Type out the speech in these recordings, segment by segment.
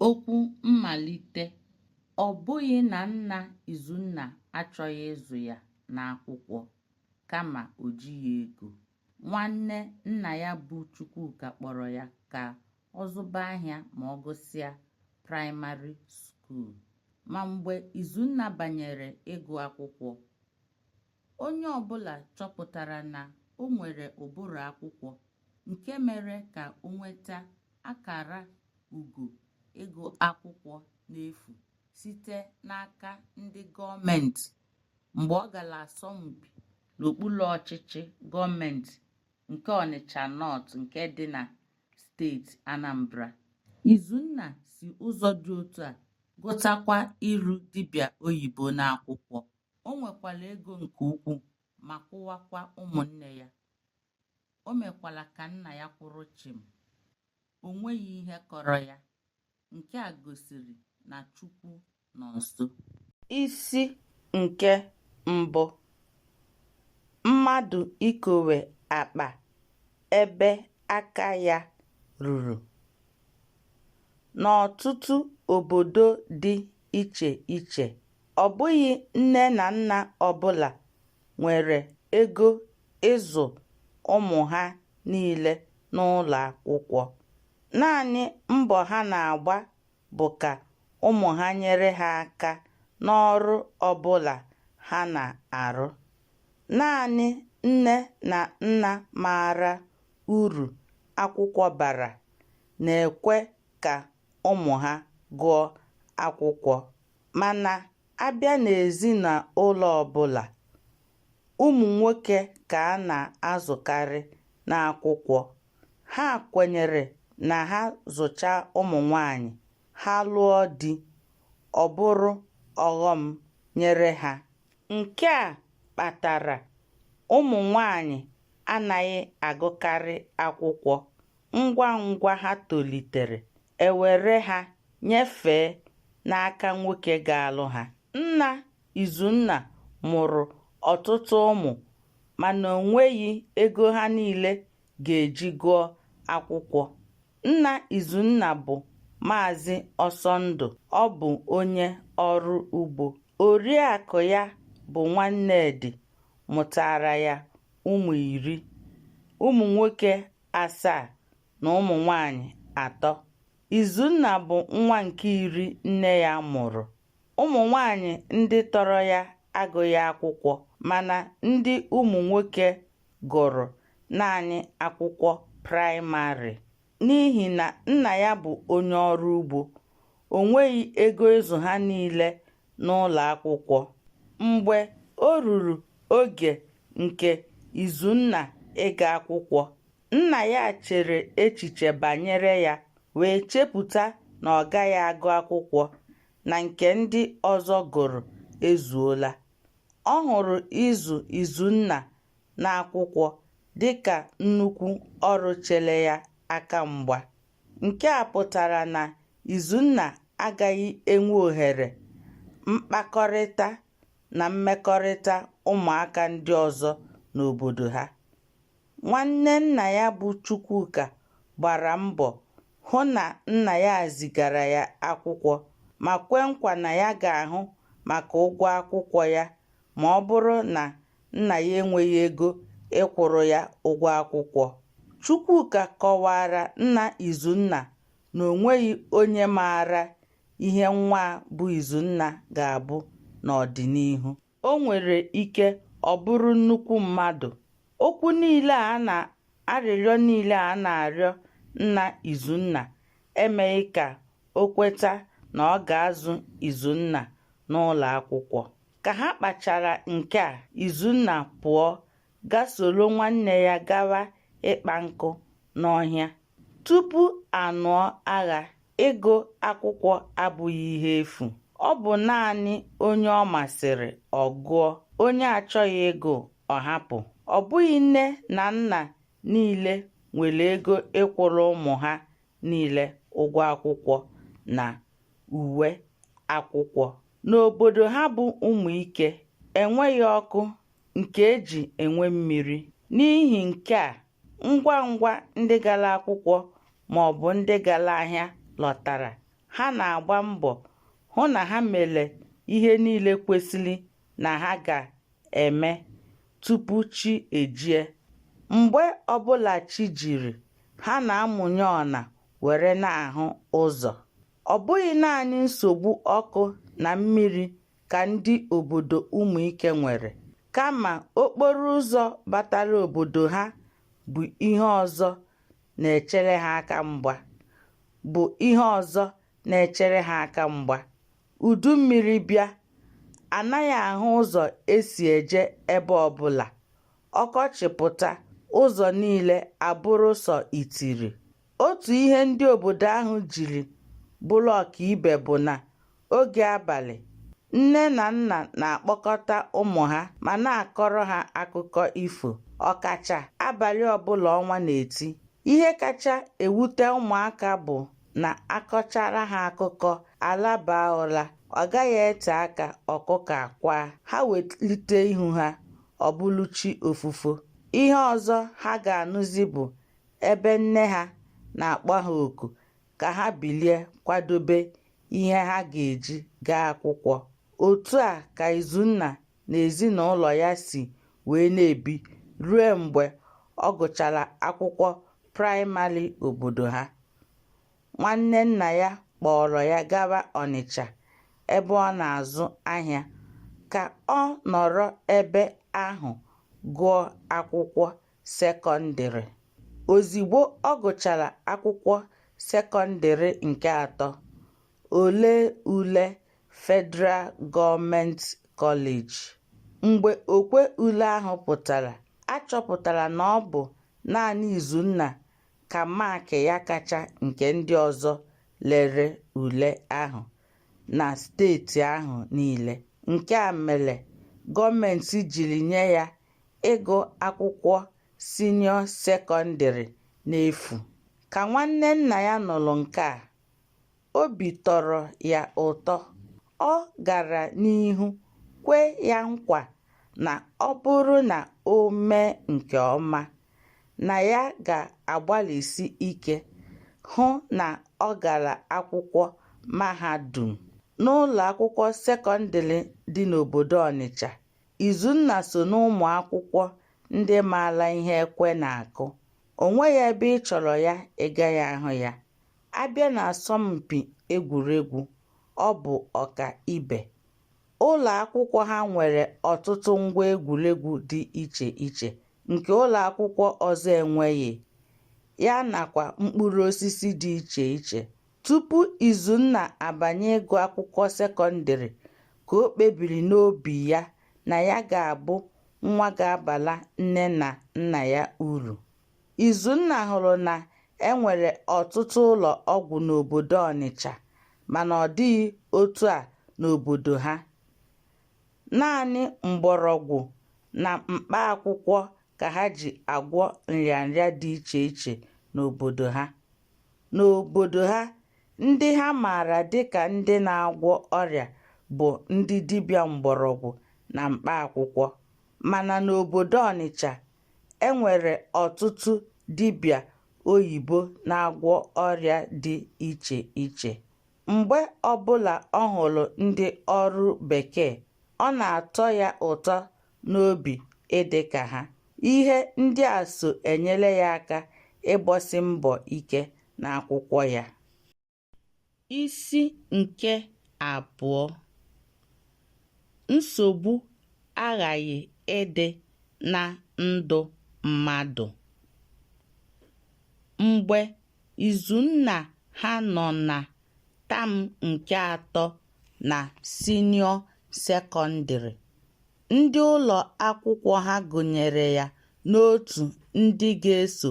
Okwu mmalite, Ọ bụghị na nna Izunna achọghị ịzụ ya n'akwụkwọ kama o jighị ego. Nwanne nna ya bụ Chukwuka kpọrọ ya ka ọ zụba ahịa ma ọ gụsịa praịmarị skuul. Ma mgbe Izunna banyere ịgụ akwụkwọ, Onye ọbụla chọpụtara na o nwere ụbụrụ akwụkwọ nke mere ka o nweta akara ugo ịgụ akwụkwọ n'efu site n'aka ndị gọọmentị mgbe ọ gara asọmpi n'okpuru ọchịchị gọọmentị nke Ọnịcha Nọt nke dị na steeti Anambra. Izunna si ụzọ dị otu a gụtakwa ịrụ dibịa oyibo n'akwụkwọ. O nwekwara ego nke ukwuu ma kwụwakwa ụmụnne ya. O mekwara ka nna ya kwụrụ chịm. O nweghị ihe kọrọ ya. Nke a gosiri na Chukwu nọ nso. Isi nke mbụ, Mmadụ ikowe akpa ebe aka ya ruru. N'ọtụtụ obodo dị iche iche. Ọ bụghị nne na nna ọbụla nwere ego ịzụ ụmụ ha niile n'ụlọ akwụkwọ. Naanị mbọ ha na-agba bụ ka ụmụ ha nyere ha aka n'ọrụ ọbụla ha na-arụ. Naanị nne na nna maara uru akwụkwọ bara na-ekwe ka ụmụ ha gụọ akwụkwọ. Mana a bịa n'ezinụlọ ọbụla, ụmụ nwoke ka a na-azụkarị n'akwụkwọ. Ha kwenyere na ha zụcha ụmụ nwaanyị, ha lụọ di, ọ bụrụ ọghọm nyere ha. Nke a kpatara ụmụ nwaanyị anaghị agụkarị akwụkwọ. Ngwa ngwa ha tolitere, e were ha nyefee n'aka nwoke ga-alụ ha. Nna Izunna mụrụ ọtụtụ ụmụ mana o nweghị ego ha niile ga-eji gụọ akwụkwọ. Nna Izunna bụ Maazị Ọsọndụ, ọ bụ onye ọrụ ugbo. Oriakụ ya bụ Nwannedị mụtaara ya ụmụ iri. Ụmụ nwoke asaa na ụmụ nwanyị atọ. Izunna bụ nwa nke iri nne ya mụrụ. Ụmụ nwanyị ndị tọrọ ya agụghị akwụkwọ mana ndị ụmụ nwoke gụrụ naanị akwụkwọ praịmarị. N'ihi na nna ya bụ onye ọrụ ugbo, o nweghị ego ịzụ ha niile n'ụlọ akwụkwọ. Mgbe o ruru oge nke Izunna ịga akwụkwọ, nna ya chere echiche banyere ya wee chepụta na ọ gaghị agụ akwụkwọ na nke ndị ọzọ gụrụ ezuola. Ọ hụrụ ịzụ Izunna n'akwụkwọ dị ka nnukwu ọrụ chere ya aka mgba. Nke a pụtara na Izunna agaghị enwe ohere mkpakọrịta na mmekọrịta ụmụaka ndị ọzọ n'obodo ha. Nwanne nna ya bụ Chukwuka gbara mbọ hụ na nna ya zigara ya akwụkwọ ma kwe nkwa na ya ga-ahụ maka ụgwọ akwụkwọ ya ma ọ bụrụ na nna ya enweghị ego ịkwụrụ ya ụgwọ akwụkwọ. Chukwuka kọwaara nna Izunna na o nweghị onye maara ihe nwa a bụ Izunna ga-abụ n'ọdịnihu. O nwere ike ọ bụrụ nnukwu mmadụ. Okwu niile a na arịrịọ niile a na-arịọ nna Izunna emeghị ka o kweta na ọ ga-azụ Izunna n'ụlọ akwụkwọ. Ka ha kpachara nke a, Izunna pụọ ga soro nwanne ya gawa ịkpa nkụ n'ọhịa. Tupu a nụọ agha, ịgụ akwụkwọ abụghị ihe efu. Ọ bụ naanị onye ọ masịrị ọ gụọ, onye achọghị ịgụ ọ hapụ. Ọ bụghị nne na nna niile nwere ego ịkwụrụ ụmụ ha niile ụgwọ akwụkwọ na uwe akwụkwọ. N'obodo ha bụ Ụmụike enweghị ọkụ nke e ji enwe mmiri. N'ihi nke a, ngwa ngwa ndị gara akwụkwọ ma ọ bụ ndị gara ahịa lọtara, ha na-agba mbọ hụ na ha mere ihe niile kwesịrị na ha ga-eme tupu chi ejie. Mgbe ọbụla chi jiri, ha na-amụnye ọna were na-ahụ ụzọ. Ọ bụghị naanị nsogbu ọkụ na mmiri ka ndị obodo Ụmụike nwere, kama okporo ụzọ batara obodo ha bụ ihe ọzọ na-echere ha aka mgba bụ ihe ọzọ na-echere ha aka mgba. Udu mmiri bịa, a naghị ahụ ụzọ e si eje ebe ọbụla. Ọkọchị pụta, ụzọ niile abụrụ sọ itiri. Otu ihe ndị obodo ahụ jiri bụrụ ọkaibe bụ na oge abalị, nne na nna na-akpọkọta ụmụ ha ma na-akọrọ ha akụkọ ifo, ọkacha abalị ọbụla ọnwa na-eti. Ihe kacha ewute ụmụaka bụ na a kọchara ha akụkọ, a labaa ụra, ọ gaghị ete aka ọkụkọ akwaa, ha welite ihu ha, ọ bụrụ chi ofufo. Ihe ọzọ ha ga-anụzi bụ ebe nne ha na-akpọ ha oku ka ha bilie kwadobe ihe ha ga-eji gaa akwụkwọ. Otu a ka Izunna na ezinụlọ ya si wee na-ebi ruo mgbe ọ gụchara akwụkwọ praịmarị obodo ha. Nwanne nna ya kpọọrọ ya gawa Ọnịcha ebe ọ na-azụ ahịa ka ọ nọrọ ebe ahụ gụọ akwụkwọ sekọndịrị. Ozigbo ọ gụchara akwụkwọ sekọndịrị nke atọ, o lee ule Federal Government College. Mgbe okwe ule ahụ pụtara, a chọpụtara na ọ bụ naanị Izunna ka maakị ya kacha nke ndị ọzọ lere ule ahụ na steeti ahụ niile. Nke a mere gọọmenti jiri nye ya ịgụ akwụkwọ sinịọ sekọndịrị n'efu. Ka nwanne nna ya nụrụ nke a, obi tọrọ ya ụtọ. Ọ gara n'ihu kwe ya nkwa na ọ bụrụ na o mee nke ọma, na ya ga-agbalịsi ike hụ na ọ gara akwụkwọ mahadum. N'ụlọakwụkwọ sekọndịrị dị n'obodo Ọnịcha Izunna so n'ụmụ akwụkwọ ndị maara ihe ekwe na-akụ. O nweghị ebe ị chọrọ ya ị gaghị ahụ ya. A bịa n'asọmpi egwuregwu, ọ bụ ọka ibe. Ụlọ akwụkwọ ha nwere ọtụtụ ngwa egwuregwu dị iche iche nke ụlọ akwụkwọ ọzọ enweghị, ya nakwa mkpụrụ osisi dị iche iche Tupu Izunna abanye ịgụ akwụkwọ sekọndịrị ka o kpebiri n'obi ya na ya ga-abụ nwa ga-abara nne na nna ya uru. Izunna hụrụ na e nwere ọtụtụ ụlọ ọgwụ n'obodo Ọnịcha mana ọ dịghị otu a n'obodo ha. Naanị mgbọrọgwụ na mkpa akwụkwọ ka ha ji agwọ nrịanrịa dị iche iche n'obodo ha. N'obodo ha, ndị ha maara dịka ndị na-agwọ ọrịa bụ ndị dibịa mgbọrọgwụ na mkpa akwụkwọ. Mana n'obodo Ọnịcha, e nwere ọtụtụ dibịa oyibo na-agwọ ọrịa dị iche iche. Mgbe ọbụla ọ hụrụ ndị ọrụ Bekee, ọ na-atọ ya ụtọ n'obi ịdị ka ha. Ihe ndị a so enyere ya aka ịgbasi mbọ ike n'akwụkwọ ya. Isi nke abụọ Nsogbu aghaghị ịdị na ndụ mmadụ. Mgbe Izunna ha nọ na tam nke atọ na sinịọ sekọndịrị. Ndị ụlọ akwụkwọ ha gụnyere ya n'otu ndị ga-eso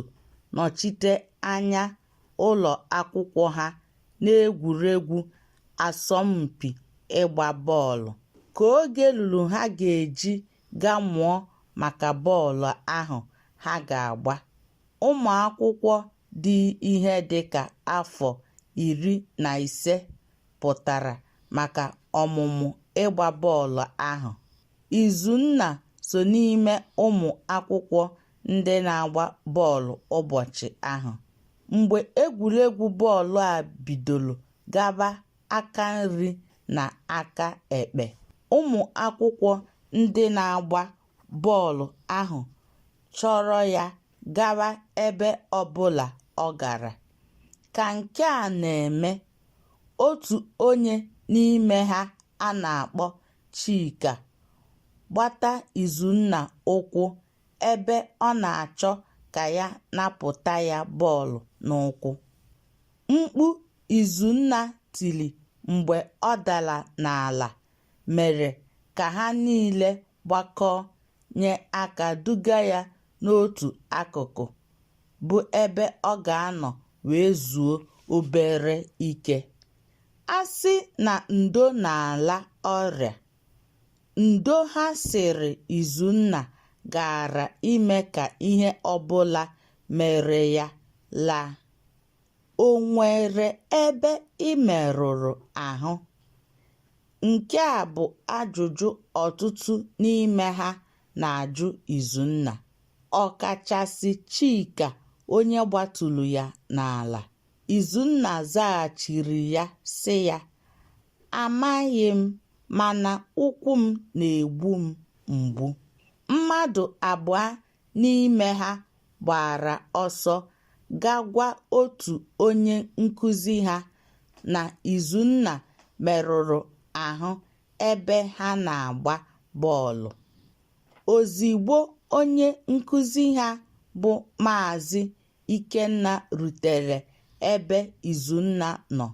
nọchite anya ụlọ akwụkwọ ha n'egwuregwu asọmpi ịgba bọọlụ. Ka oge luru ha ga-eji ga mụọ maka bọọlụ ahụ ha ga-agba. ụmụ akwụkwọ dị ihe dị ka afọ iri na ise pụtara maka ọmụmụ ịgba bọọlụ ahụ. Izunna so n'ime ụmụ akwụkwọ ndị na-agba bọọlụ ụbọchị ahụ. Mgbe egwuregwu bọọlụ a bidoro gaba aka nri na aka ekpe, ụmụ akwụkwọ ndị na-agba bọọlụ ahụ chọrọ ya gawa ebe ọbụla ọ gara. Ka nke a na-eme, otu onye n'ime ha a na-akpọ Chika gbata Izunna ụkwụ ebe ọ na-achọ ka ya napụta ya bọọlụ n'ụkwụ. Mkpu Izunna tiri mgbe ọ dara n'ala mere ka ha niile gbakọọ nye aka duga ya n'otu akụkụ bụ ebe ọ ga-anọ wee zuo obere ike. A sị na ndo na-ala ọrịa, ndo ha sịrị Izunna gaara ime ka ihe ọbụla mere ya laa. O nwere ebe ị merụrụ ahụ? Nke a bụ ajụjụ ọtụtụ n'ime ha na-ajụ Izunna, ọkachasị Chika onye gbaturu ya n'ala. Izunna zaghachiri ya sị ya, Amaghị m mana ụkwụ m na-egbu m mgbu. Mmadụ abụọ n'ime ha gbara ọsọ ga gwa otu onye nkụzi ha na Izunna merụrụ ahụ ebe ha na-agba bọọlụ. Ozigbo onye nkụzi ha bụ Maazị Ikenna rutere ebe Izunna nọ,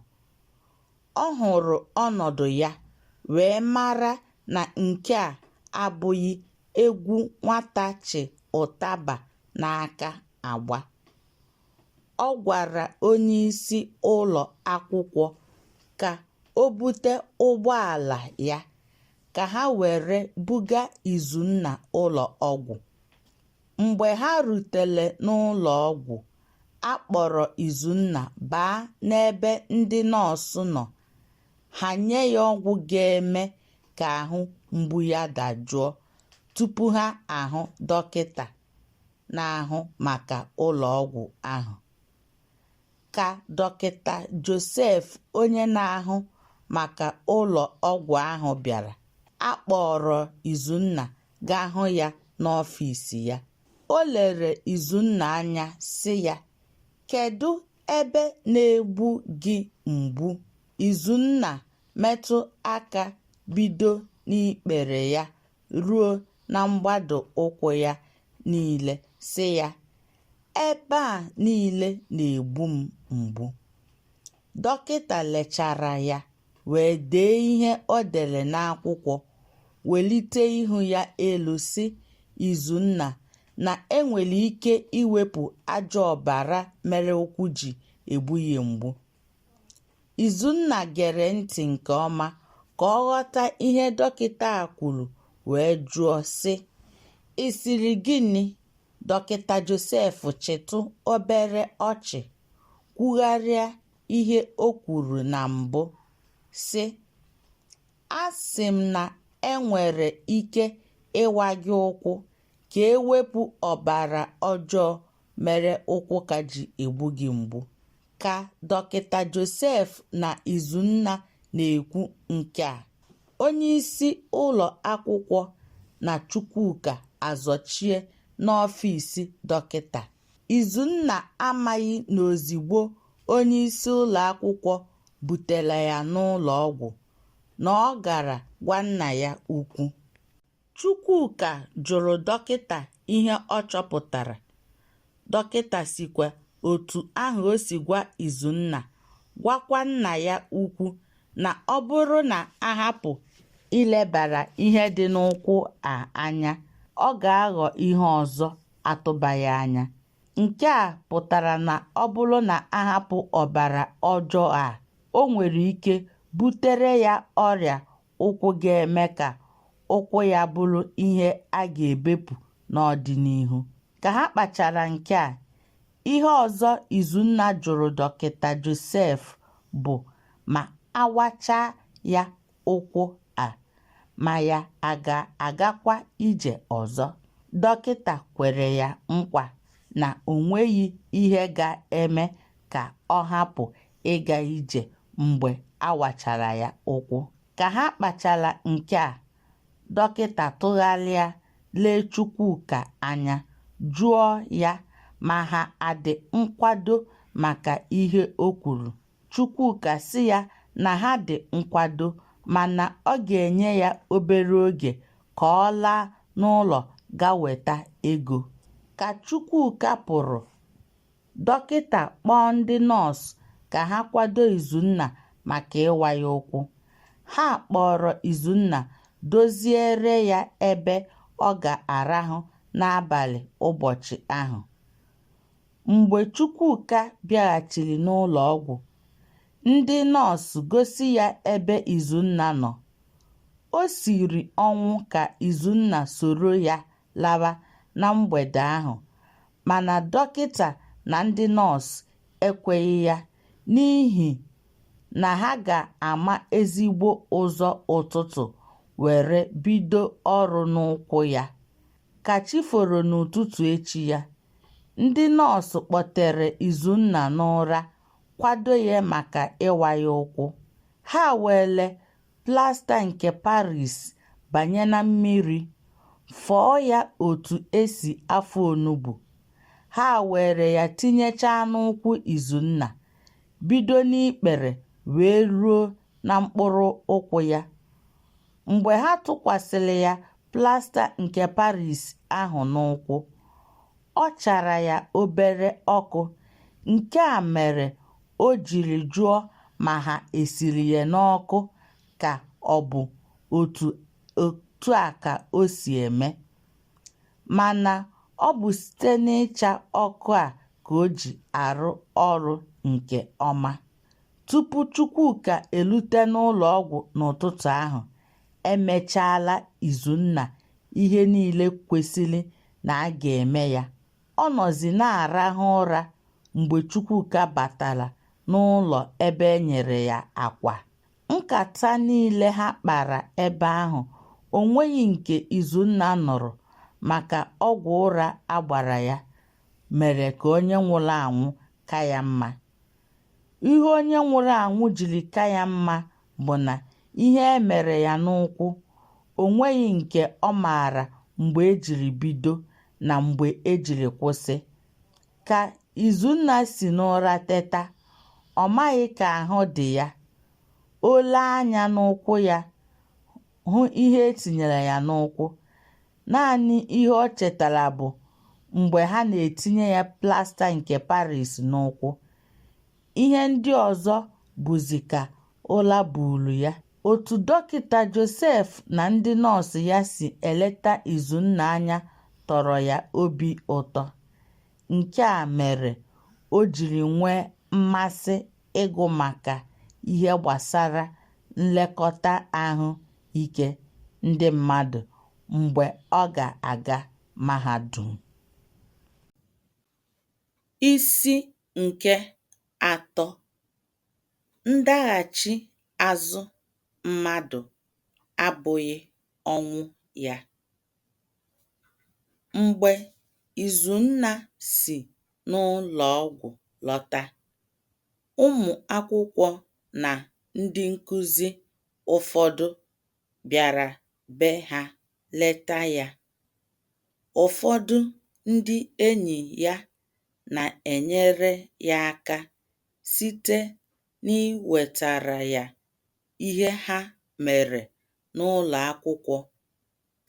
Ọ hụrụ ọnọdụ ya wee mara na nke a abụghị egwu nwata chị ụtaba n'aka agba. Ọ gwara onyeisi ụlọ akwụkwọ ka o bute ụgbọala ya ka ha were buga Izunna ụlọ ọgwụ. Mgbe ha rutere n'ụlọ ọgwụ, a kpọrọ Izunna baa n'ebe ndị nọọsụ nọ, ha nye ya ọgwụ ga-eme ka ahụ mgbu ya dajụọ tupu ha ahụ dọkịta na-ahụ maka ụlọ ọgwụ ahụ. Ka Dọkịta Josef onye na-ahụ maka ụlọ ọgwụ ahụ bịara, a kpọọrọ Izunna gaa hụ ya n'ọfịs ya. O lere Izunna anya sị ya, Kedụ ebe na-egbu gị mgbu? Izunna metụ aka bido n'ikpere ya ruo na mgbado ụkwụ ya niile sị ya, Ebe a niile na-egbu m mgbu. Dọkịta lechara ya wee dee ihe o dere n'akwụkwọ, welite ihu ya elu sị, Izunna, na e nwere ike iwepụ ajọ ọbara mere ụkwụ ji egbu gị mgbu. Izunna gere ntị nke ọma ka ọ ghọta ihe dọkịta a kwuru wee jụọ, sị, Ị sịrị gịnị? Dọkịta Josef chịtụ obere ọchị kwugharịa ihe o kwuru na mbụ, sị, Asị m na e nwere ike ịwa gị ụkwụ ka e wepụ ọbara ọjọọ mere ụkwụ ka ji egbu gị mgbu. ka dọkịta Joseph na Izunna na-ekwu nke a onyeisi ụlọ akwụkwọ na Chukwuka azọchie n'ọfịs dọkịta Izunna amaghị na ozigbo onyeisi ụlọakwụkwọ butere ya n'ụlọọgwụ na ọ gara gwa nna ya ukwu. Chukwuka jụrụ dọkịta ihe ọ chọpụtara, dọkịta sikwa otu ahụ o si gwa Izunna gwakwa nna ya ukwu na ọ bụrụ na a hapụ ilebara ihe dị n'ụkwụ a anya, ọ ga-aghọ ihe ọzọ atụbaghị anya. Nke a pụtara na ọ bụrụ na a hapụ ọbara ọjọọ a, o nwere ike butere ya ọrịa ụkwụ ga-eme ka ụkwụ ya bụrụ ihe a ga-ebepụ n'ọdịnihu. Ka ha kpachara nke a, ihe ọzọ Izunna jụrụ Dọkịta Josef bụ ma a wachaa ya ụkwụ a, ma ya a ga-agakwa ije ọzọ. Dọkịta kwere ya nkwa na o nweghị ihe ga-eme ka ọ hapụ ịga ije mgbe a wachara ya ụkwụ. Ka ha kpachara nke a, dọkịta tụgharịa lee Chukwuka anya, jụọ ya ma ha adị nkwado maka ihe o kwuru. Chukwuka sị ya na ha dị nkwado mana ọ ga-enye ya obere oge ka ọ laa n'ụlọ ga weta ego. Ka Chukwuka pụrụ, Dọkịta kpọọ ndị nọọsụ ka ha kwado Izunna maka ịwa ya ụkwụ. Ha kpọọrọ Izunna doziere ya ebe ọ ga-arahụ n'abalị ụbọchị ahụ. Mgbe Chukwuka bịaghachiri n'ụlọ ọgwụ, ndị nọọsụ gosi ya ebe Izunna nọ. O siri ọnwụ ka Izunna soro ya lawa na mgbede ahụ mana dọkịta na ndị nọọsụ ekweghị ya n'ihi na ha ga-ama ezigbo ụzọ ụtụtụ were bido ọrụ n'ụkwụ ya. Ka chi foro n'ụtụtụ echi ya, ndị nọọsụ kpọtere Izunna n'ụra kwado ya maka ịwa ya ụkwụ. Ha weere plasta nke Paris banye na mmiri, fọọ ya otu e si afọ onugbu. Ha weere ya tinyechaa n'ụkwụ Izunna, bido n'ikpere wee ruo na mkpụrụ ụkwụ ya. Mgbe ha tụkwasịrị ya plasta nke Paris ahụ n'ụkwụ, ọ chara ya obere ọkụ nke a mere o jiri jụọ ma ha esiri ya n'ọkụ ka ọ bụ otu otu a ka o si eme mana ọ bụ site n'ịcha ọkụ a ka o ji arụ ọrụ nke ọma. Tupu Chukwuka elute n'ụlọọgwụ n'ụtụtụ ahụ, e mechaala Izunna ihe niile kwesịrị na a ga-eme ya. Ọ nọzi na-arahụ ụra mgbe Chukwuka batara n'ụlọ ebe e nyere ya akwa. Nkata niile ha kpara ebe ahụ, o nweghị nke Izunna nụrụ maka ọgwụ ụra a gbara ya mere ka onye nwụrụ anwụ ka ya mma. Ihe onye nwụrụ anwụ jiri ka ya mma bụ na ihe e mere ya n'ụkwụ, o nweghị nke ọ maara mgbe e jiri bido na mgbe e jiri kwụsị. Ka Izunna si n'ụra teta, ọ maghị ka ahụ dị ya. O lee anya n'ụkwụ ya hụ ihe e tinyere ya n'ụkwụ. Naanị ihe ọ chetara bụ mgbe ha na-etinye ya plasta nke Paris n'ụkwụ. Ihe ndị ọzọ bụzi ka ụla buuru ya. Otu Dọkịta Joseph na ndị nọọsụ ya si eleta Izunna anya tọrọ ya obi ụtọ. Nke a mere o jiri nwee mmasị ịgụ maka ihe gbasara nlekọta ahụ ike ndị mmadụ mgbe ọ ga-aga mahadum. Isi nke atọ ndaghachi azụ mmadụ abụghị ọnwụ ya. Mgbe Izunna si n'ụlọ ọgwụ lọta, ụmụ akwụkwọ na ndị nkụzi ụfọdụ bịara be ha leta ya. Ụfọdụ ndị enyi ya na-enyere ya aka site n'iwetara ya ihe ha mere n'ụlọ akwụkwọ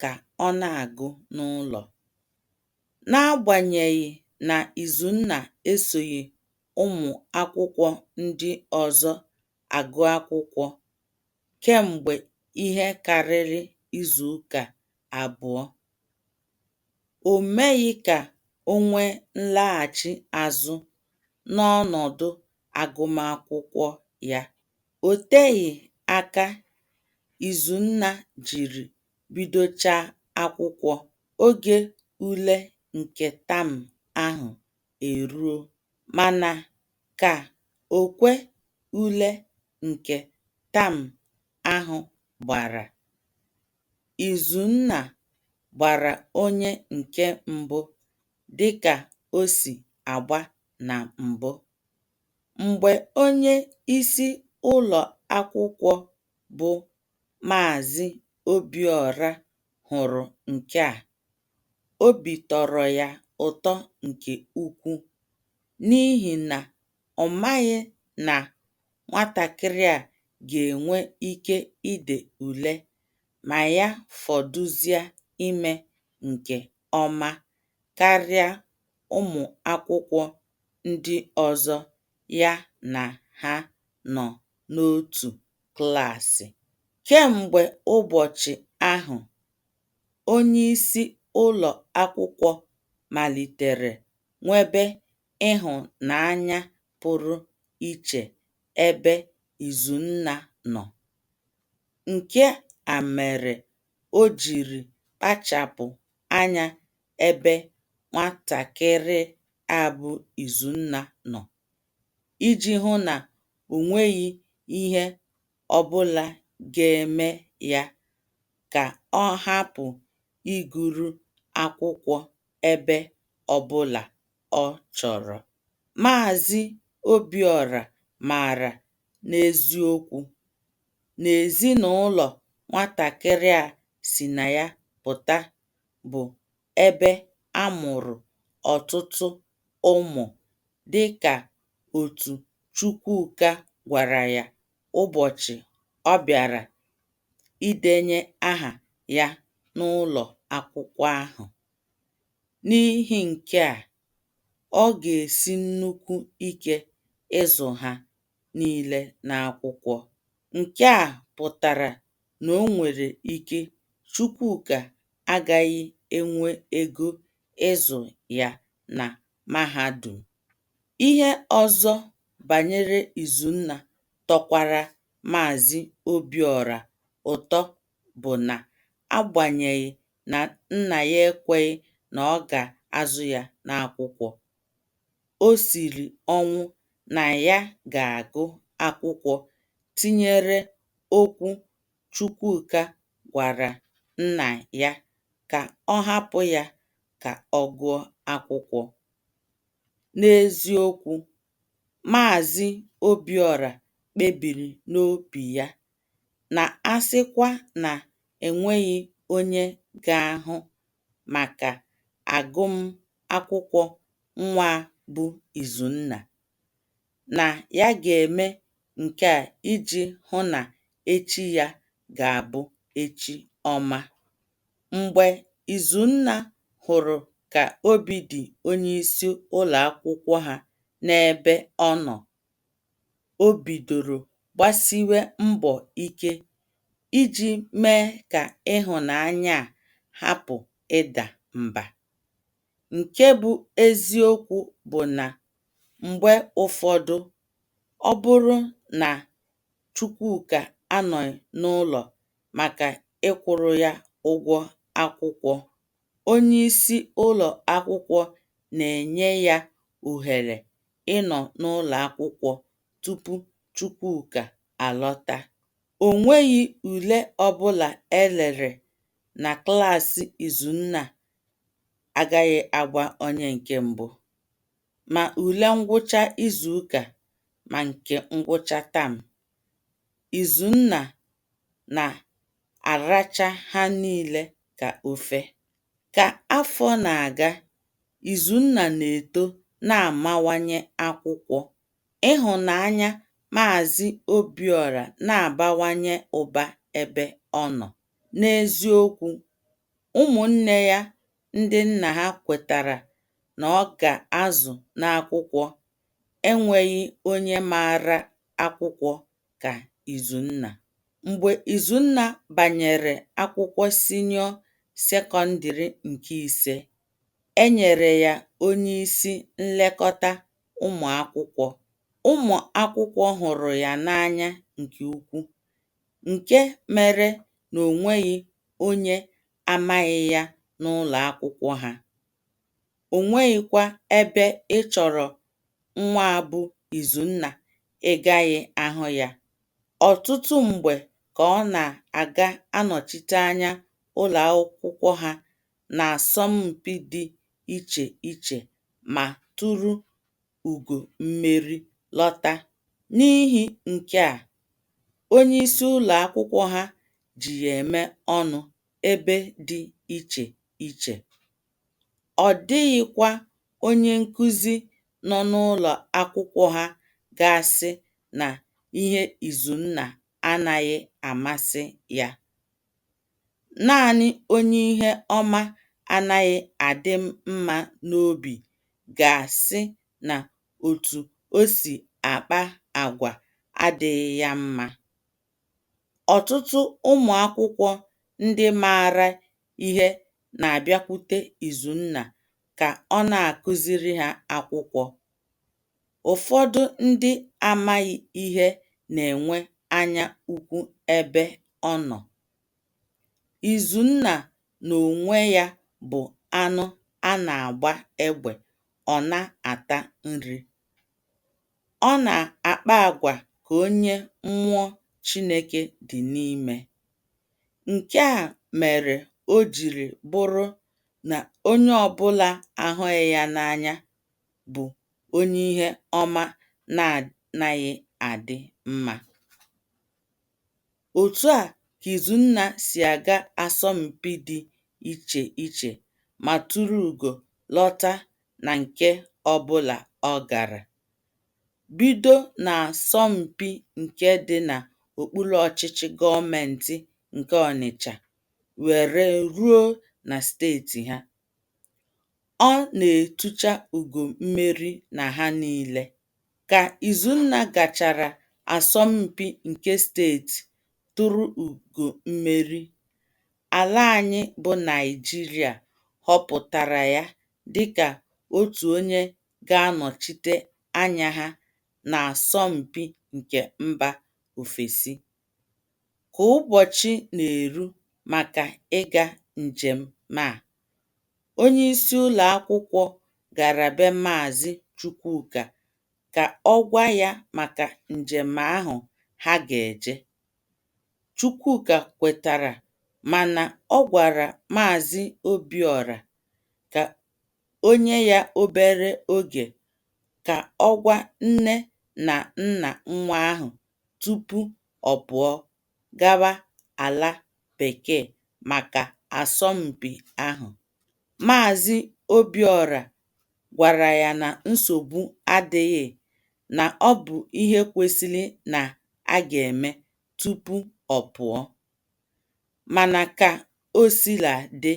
ka ọ na-agụ n'ụlọ. N'agbanyeghị na Izunna esoghị ụmụ akwụkwọ ndị ọzọ agụ akwụkwọ kemgbe ihe karịrị izuụka abụọ, o meghị ka o nwee nlaghachi azụ n'ọnọdụ agụmakwụkwọ ya. O teghị aka Izunna jiri bidochaa akwụkwọ, oge ule nke tam ahụ eruo. Mana ka okwe ule nke tam ahụ gbara, Izunna gbara onye nke mbụ dịka o si agba na mbụ. Mgbe onyeisi ụlọakwụkwọ bụ Maazị Obiọra hụrụ nke a, obi tọrọ ya ụtọ nke ukwu n'ihi na ọ maghị na nwatakịrị a ga-enwe ike ide ule ma ya fọdụzie ime nke ọma karịa ụmụakwụkwọ ndị ọzọ ya na ha nọ n'otu klaasị. Kemgbe ụbọchị ahụ, onyeisi ụlọ akwụkwọ malitere nwebe ịhụnanya pụrụ iche ebe Izunna nọ. Nke a mere o jiri kpachapụ anya ebe nwatakịrị a bụ Izunna nọ iji hụ na o nweghị ihe ọbụla ga-eme ya ka ọ hapụ ịgụru akwụkwọ ebe ọbụla ọ chọrọ. Maazị Obiọra maara n'eziokwu na ezinaụlọ nwatakịrị a si na ya pụta bụ ebe a mụrụ ọtụtụ ụmụ dị ka otu Chukwuka gwara ya ụbọchị ọ bịara idenye aha ya n'ụlọ akwụkwọ ahụ. N'ihi nke a, ọ ga-esi nnukwu ike ịzụ ha nile n'akwụkwọ. Nke a pụtara na o nwere ike Chukwuka agaghị enwe ego ịzụ ya na mahadum. Ihe ọzọ banyere Izunna tọkwara Maazị Obiọra ụtọ bụ na agbanyeghị na nna ya ekweghị na ọ ga-azụ ya n'akwụkwọ. O siri ọnwụ na ya ga-agụ akwụkwọ tinyere okwu Chukwuka gwara nna ya ka ọ hapụ ya ka ọ gụọ akwụkwọ. N'eziokwu, Maazị Obiọra kpebiri n'obi ya na a sịkwa na e nweghị onye ga-ahụ maka agụmakwụkwọ nwa a bụ Izunna, na ya ga-eme nke a iji hụ na echi ya ga-abụ echi ọma. Mgbe Izunna hụrụ ka obi dị onyeisi ụlọakwụkwọ ha n'ebe ọ nọ, o bidoro gbasiwe mbọ ike iji mee ka ịhụnanya a hapụ ịda mba. Nke bụ eziokwu bụ na mgbe ụfọdụ, ọ bụrụ na Chukwuka anọghị n'ụlọ maka ịkwụrụ ya ụgwọ akwụkwọ, onye isi ụlọ akwụkwọ na-enye ya ohere ịnọ n'ụlọ akwụkwọ tupu Chukwuka alọta. O nweghị ule ọbụla e lere na klaasị Izunna agaghị agba onye nke mbụ, ma ule ngwụcha izuụka ma nke ngwụcha tam. Izunna na-aracha ha niile ka ofe. Ka afọ na-aga, Izunna na-eto na-amawanye akwụkwọ. Ịhụnanya Maazị Obiọra na-abawanye ụba ebe ọ nọ. N'eziokwu, ụmụnne ya ndị nna ha kwetara na ọ ga-azụ n'akwụkwọ enweghị onye maara akwụkwọ ka Izunna. Mgbe Izunna banyere akwụkwọ sinịọ sekọndịrị nke ise, e nyere ya onyeisi nlekọta ụmụakwụkwọ. Ụmụakwụkwọ hụrụ ya n'anya nke ukwu nke mere na o nweghị onye amaghị ya n'ụlọakwụkwọ ha. o nweghịkwa ebe ị chọrọ nwa a bụ Izunna ị gaghị ahụ ya. Ọtụtụ mgbe ka ọ na-aga anọchite anya ụlọakwụkwọ ha n'asọmpi dị iche iche ma turu ugo mmeri lọta. N'ihi nke a, onyeisi ụlọakwụkwọ ha ji ya eme ọnụ ebe dị iche iche. ọ dịghịkwa onye nkụzi nọ n'ụlọ akwụkwọ ha ga-asị na ihe Izunna anaghị amasị ya. Naanị onye ihe ọma anaghị adị mma n'obi ga-asị na otu o si akpa agwa adịghị ya mma. Ọtụtụ ụmụ akwụkwọ ndị maara ihe na-abịakwute Izunna ka ọ na-akụziri ha akwụkwọ. Ụfọdụ ndị amaghị ihe na-enwe anya ukwu ebe ọ nọ. Izunna n'onwe ya bụ anụ a na-agba egbe ọ na-ata nri. Ọ na-akpa agwa ka onye mmụọ Chineke dị n'ime. Nke a mere o jiri bụrụ na onye ọ bụla ahụghị ya n'anya bụ onye ihe ọma na-anaghị adị mma. Otu a ka Izunna si aga asọmpi dị iche iche ma tụrụ ugo lọta na nke ọbụla ọ gara. Bido n'asọmpi nke dị n'okpuru ọchịchị gọọmentị nke Ọnịcha were ruo na steeti ha. Ọ na-etucha ugo mmeri na ha niile. Ka Izunna gachara asọmpi nke steeti tụrụ ugo mmeri, ala anyị bụ Naịjirịa họpụtara ya dịka otu onye ga-anọchite anya ha n'asọmpi nke mba ofesi. Ka ụbọchị na-eru maka ịga njem a, onyeisi ụlọakwụkwọ gara be Maazị Chukwuka ka ọ gwa ya maka njem ahụ ha ga-eje. Chukwuka kwetara mana ọ gwara Maazị Obiọra ka o nye ya obere oge ka ọ gwa nne na nna nwa ahụ tupu ọ pụọ gawa ala Bekee maka asọmpi ahụ. Maazị Obiọra gwara ya na nsogbu adịghị, na ọ bụ ihe kwesịrị na a ga-eme tupu ọ pụọ. Mana ka o sila dị,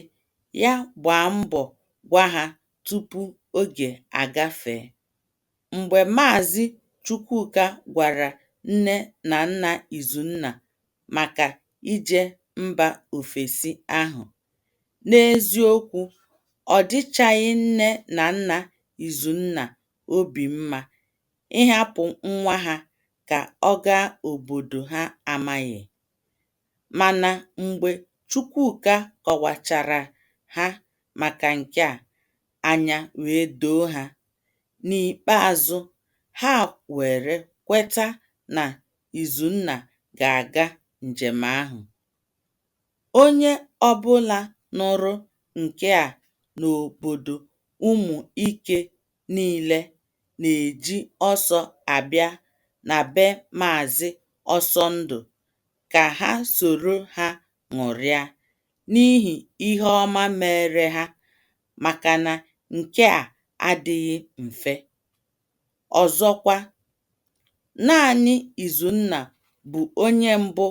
ya gbaa mbọ gwa ha tupu oge agafee. Mgbe Maazị Chukwuka gwara nne na nna Izunna maka ije mba ofesi ahụ, n'eziokwu, ọ dịchaghị nne na nna Izunna obi mma ịhapụ nwa ha ka ọ gaa obodo ha amaghị. Mana mgbe Chukwuka kọwachara ha maka nke a, anya wee doo ha. N'ikpeazụ, ha were kweta na Izunna ga-aga njem ahụ. Onye ọbụla nụrụ nke a n'obodo Ụmụike niile na-eji ọsọ abịa na be Maazị Ọsọndụ ka ha soro ha ṅụrịa n'ihi ihe ọma meere ha maka na nke a adịghị mfe. Ọzọkwa, naanị Izunna bụ onye mbụ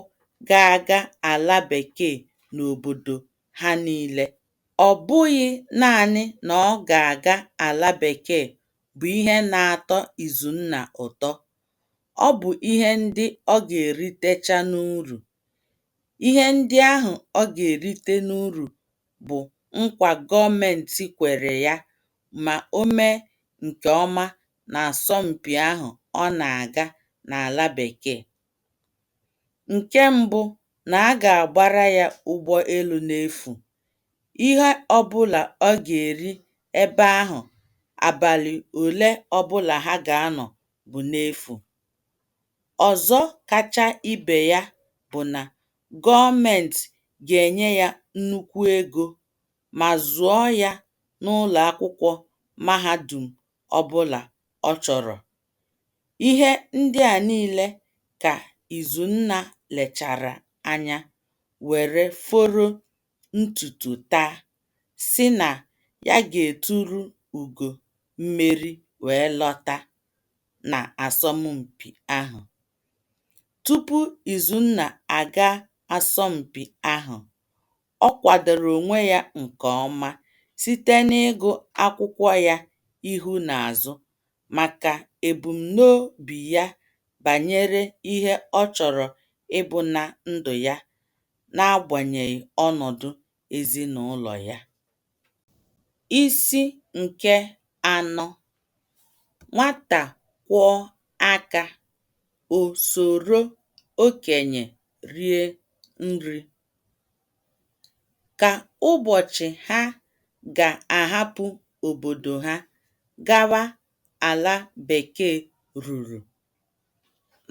ga-aga ala bekee n'obodo ha niile. Ọ bụghị naanị na ọ ga-aga ala bekee bụ ihe na-atọ Izunna ụtọ, ọ bụ ihe ndị ọ ga-eritecha n'uru. Ihe ndị ahụ ọ ga-erite n'uru bụ nkwa gọọmenti kwere ya ma o mee nke ọma n'asọmpi ahụ ọ na-aga n'ala Bekee. Nke mbụ na a ga-agbara ya ụgbọ elu n'efu. Ihe ọbụla ọ ga-eri ebe ahụ abalị ole ọbụla ha ga-anọ bụ n'efu. Ọzọ kacha ibe ya bụ na gọọmenti ga-enye ya nnukwu ego ma zụọ ya n'ụlọakwụkwọ mahadum ọbụla ọ chọrọ. Ihe ndị a niile ka Izunna lechara anya were foro ntutu taa, sị na ya ga-eturu ugo mmeri wee lọta n'asọmpi ahụ. Tupu Izunna aga asọmpi ahụ, ọ kwadoro onwe ya nke ọma site n'ịgụ akwụkwọ ya ihu na azụ maka ebumnobi ya banyere ihe ọ chọrọ ịbụ na ndụ ya n'agbanyeghị ọnọdụ ezinụlọ ya. Isi nke anọ, nwata kwọọ aka, o soro okenye rie nri. Ka ụbọchị ha ga-ahapụ obodo ha gawa ala Bekee ruru,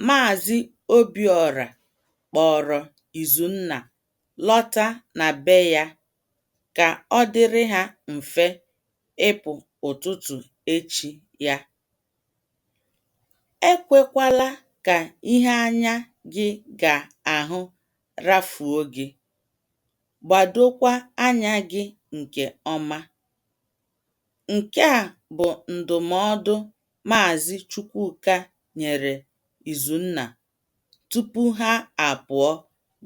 Maazị Obiọra kpọọrọ Izunna lọta na be ya ka ọ dịrị ha mfe ịpụ ụtụtụ echi ya. Ekwekwala ka ihe anya gị ga-ahụ rafuo gị. Gbadokwa anya gị nke ọma. Nke a bụ ndụmọdụ Maazị Chukwuka nyere Izunna tupu ha apụọ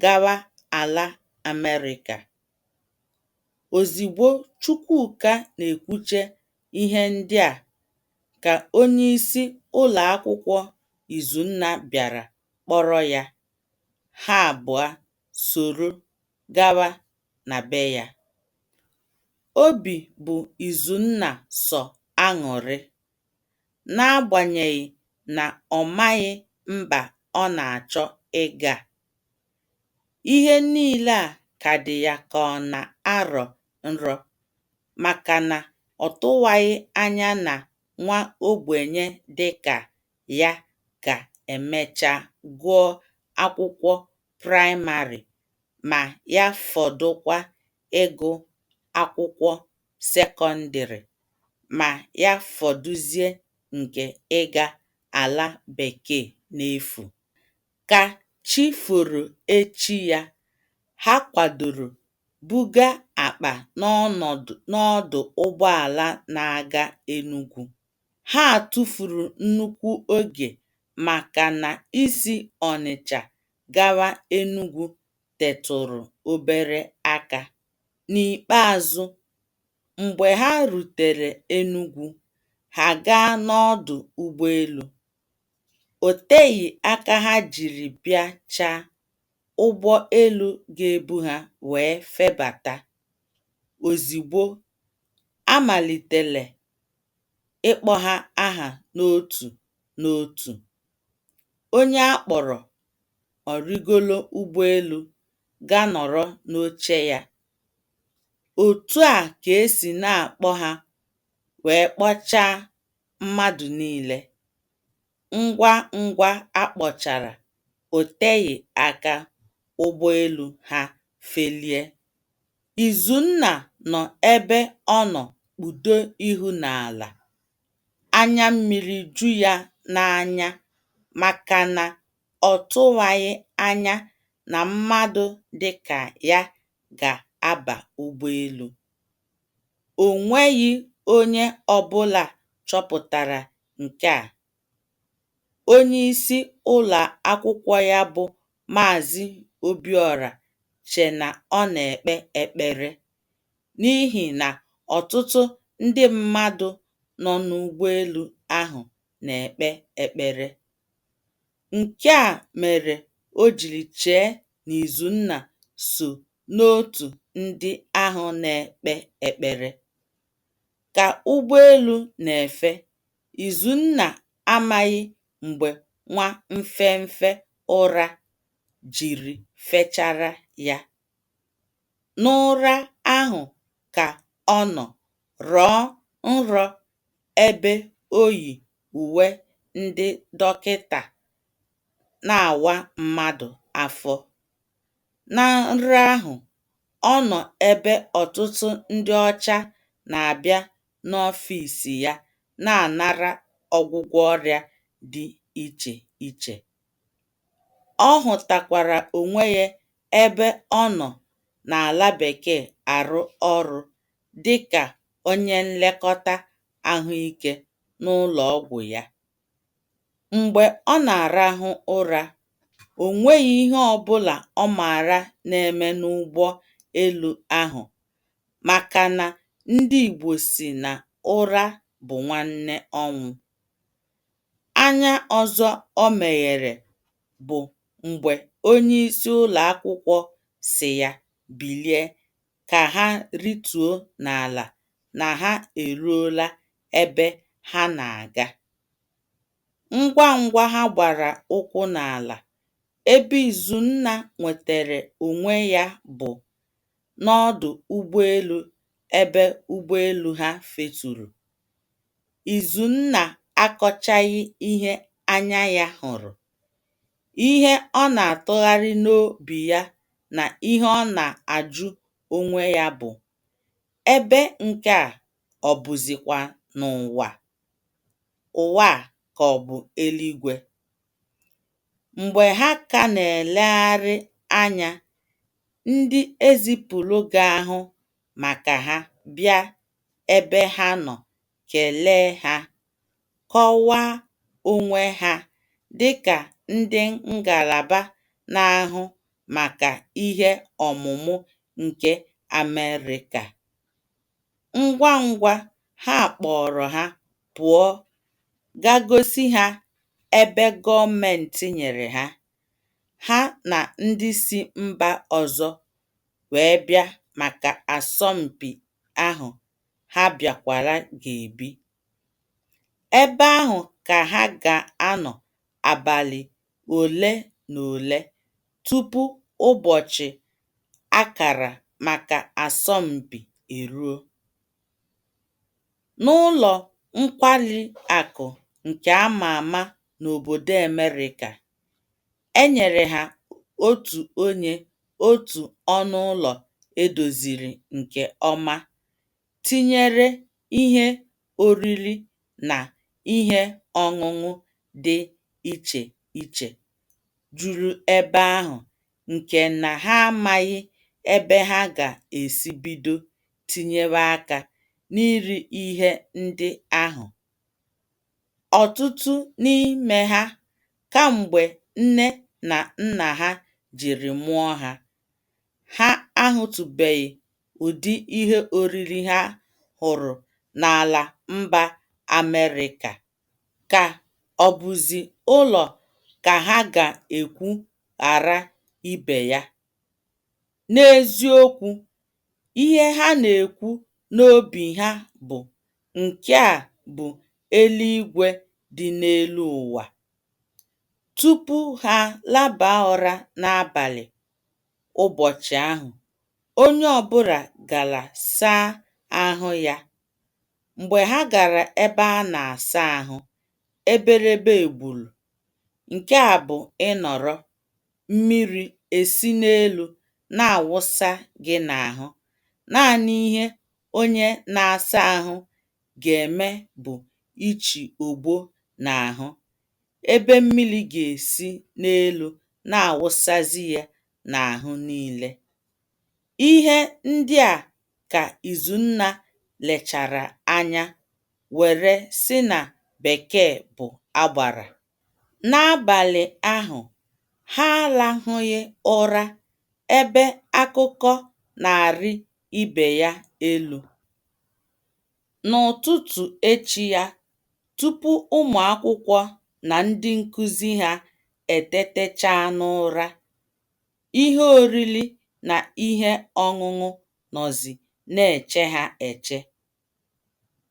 gawa ala Amerịka. Ozigbo Chukwuka na-ekwuche ihe ndị a ka onyeisi ụlọakwụkwọ Izunna bịara kpọrọ ya, ha abụọ soro gawa na be ya. Obi bụ Izunna sọ aṅụrị n'agbanyeghị na ọ maghị mba ọ na-achọ ịga. Ihe niile a ka dị ya ka ọ na-arọ nrọ maka na ọ tụwaghị anya na nwa ogbenye dị ka ya ga-emecha gụọ akwụkwọ praịmarị ma ya fọdụkwa ịgụ akwụkwọ sekọndịrị ma ya fọdụzie nke ịga ala bekee n'efu. Ka chi foro echi ya, ha kwadoro buga akpa n'ọdụ ụgbọala na-aga Enugwu. Ha tụfuru nnukwu oge maka na isi Ọnịcha gawa Enugwu tetụrụ obere aka. N'ikpeazụ, mgbe ha rutere Enugwu, ha gaa n'ọdụ ụgbọelu. O teghị aka ha jiri bịachaa ụgbọ elu ga-ebu ha wee febata. Ozigbo, a malitere ịkpọ ha aha n'otu n'otu. Onye a kpọrọ ọ rịgoro ụgbọelu ga nọrọ n'oche ya. Otu a ka e si na-akpọ ha wee kpọchaa mmadụ niile. Ngwa ngwa a kpọchara, o teghị aka ụgbọelu ha felie. Izunna nọ ebe ọ nọ kpudo ihu n'ala. anya mmiri ju ya n'anya maka na ọ tụwaghị anya na mmadụ dị ka ya ga-aba ụgbọelu. O nweghị onye ọbụla chọpụtara nke a. Onyeisi ụlọ akwụkwọ ya bụ Maazị Obiọra che na ọ na-ekpe ekpere. n'ihi na ọtụtụ ndị mmadụ nọ n'ụgbọelu ahụ na-ekpe ekpere. Nke a mere o jiri chee na Izunna so n'otu ndị ahụ na-ekpe ekpere. Ka ụgbọelu na-efe, Izunna amaghị mgbe nwa mfemfe ụra jiri fechara ya. N'ụra ahụ ka ọ nọ rọọ nrọ ebe o yi uwe ndị dọkịta na-awa mmadụ afọ. Na nrọ ahụ, ọ nọ ebe ọtụtụ ndị ọcha na-abịa n'ọfịs ya na-anara ọgwụgwọ ọrịa dị iche iche. Ọ hụtakwara onwe ya ebe ọ nọ n'ala bekee arụ ọrụ dịka onye nlekọta ahụike n'ụlọ ọgwụ ya. Mgbe ọ na-arahụ ụra, o nweghị ihe ọ bụla ọ maara na-eme n'ụgbọ elu ahụ maka na ndị Igbo sị na ụra bụ nwanne ọnwụ. Anya ọzọ o meghere bụ mgbe onyeisi ụlọ akwụkwọ sị ya bilie ka ha rịtuo n'ala na ha eruola ebe ha na-aga. Ngwa ngwa ha gbara ụkwụ n'ala, ebe Izunna nwetara onwe ya bụ n'ọdụ ụgbọelu ebe ụgbọelu ha feturu. Izunna akọchaghị ihe anya ya hụrụ. Ihe ọ na-atụgharị n'obi ya na ihe ọ na-ajụ onwe ya bụ, Ebe nke a ọ bụzikwa n'ụwa? Ụwa a ka ọ bụ eluigwe? Mgbe ha ka na-elegharị anya, ndị e zipụrụ ga-ahụ maka ha bịa ebe ha nọ kelee ha, kọwaa onwe ha dị ka ndị ngalaba na-ahụ maka ihe ọmụmụ nke Amerịka. Ngwa ngwa ha kpọọrọ ha pụọ ga gosi ha ebe gọọmentị nyere ha, ha na ndị si mba ọzọ wee bịa maka asọmpi ahụ ha bịakwara ga-ebi. Ebe ahụ ka ha ga-anọ abalị ole na ole tupu ụbọchị a kara maka asọmpi eruo. N'ụlọ nkwari akụ nke a ma ama n'obodo Amerịka, e nyere ha otu onye otu ọnụ ụlọ e doziri nke ọma tinyere ihe oriri na ihe ọṅụṅụ dị iche iche juru ebe ahụ nke na ha amaghị ebe ha ga-esi bido tinyewe aka n'iri ihe ndị ahụ. Ọtụtụ n'ime ha, kamgbe nne na nna ha jiri mụọ ha Ha ahụtụbeghị ụdị ihe oriri ha hụrụ n'ala mba Amerịka. Ka ọ bụzi ụlọ ka ha ga-ekwu ghara ibe ya? N'eziokwu, ihe ha na-ekwu n'obi ha bụ, Nke a bụ eluigwe dị n'elu ụwa. Tupu ha laba ụra n'abalị ụbọchị ahụ, onye ọ bụla gara saa ahụ ya. Mgbe ha gara ebe a na-asa ahụ, eberebe egburu, nke a bụ ịnọrọ, mmiri esi n'elu na-awụsa gị n'ahụ. Naanị ihe onye na-asa ahụ ga-eme bụ ichi ogbo n'ahụ, ebe mmiri ga-esi n'elu na-awụsazị ya n'ahụ niile. Ihe ndị a ka Izunna lechara anya were sị na Bekee bụ agbara. N'abalị ahụ, ha alahụghị ụra ebe akụkọ na-arị ibe ya elu. N'ụtụtụ echi ya, tupu ụmụ akwụkwọ na ndị nkụzi ha etetechaa n'ụra, ihe oriri na ihe ọṅụṅụ nọzi na-eche ha eche.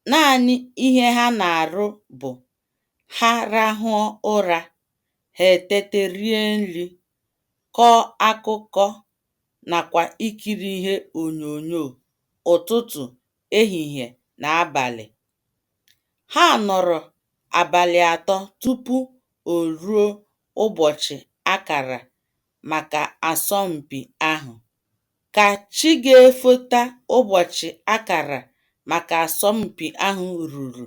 Naanị ihe ha na-arụ bụ ha rahụọ ụra, ha etete rie nri, kọọ akụkọ nakwa ikiri ihe onyonyo ụtụtụ ehihie na abalị. Ha nọrọ abalị atọ tupu o ruo ụbọchị a kara maka asọmpi ahụ. Ka chi ga-efota ụbọchị a kara maka asọmpi ahụ ruru,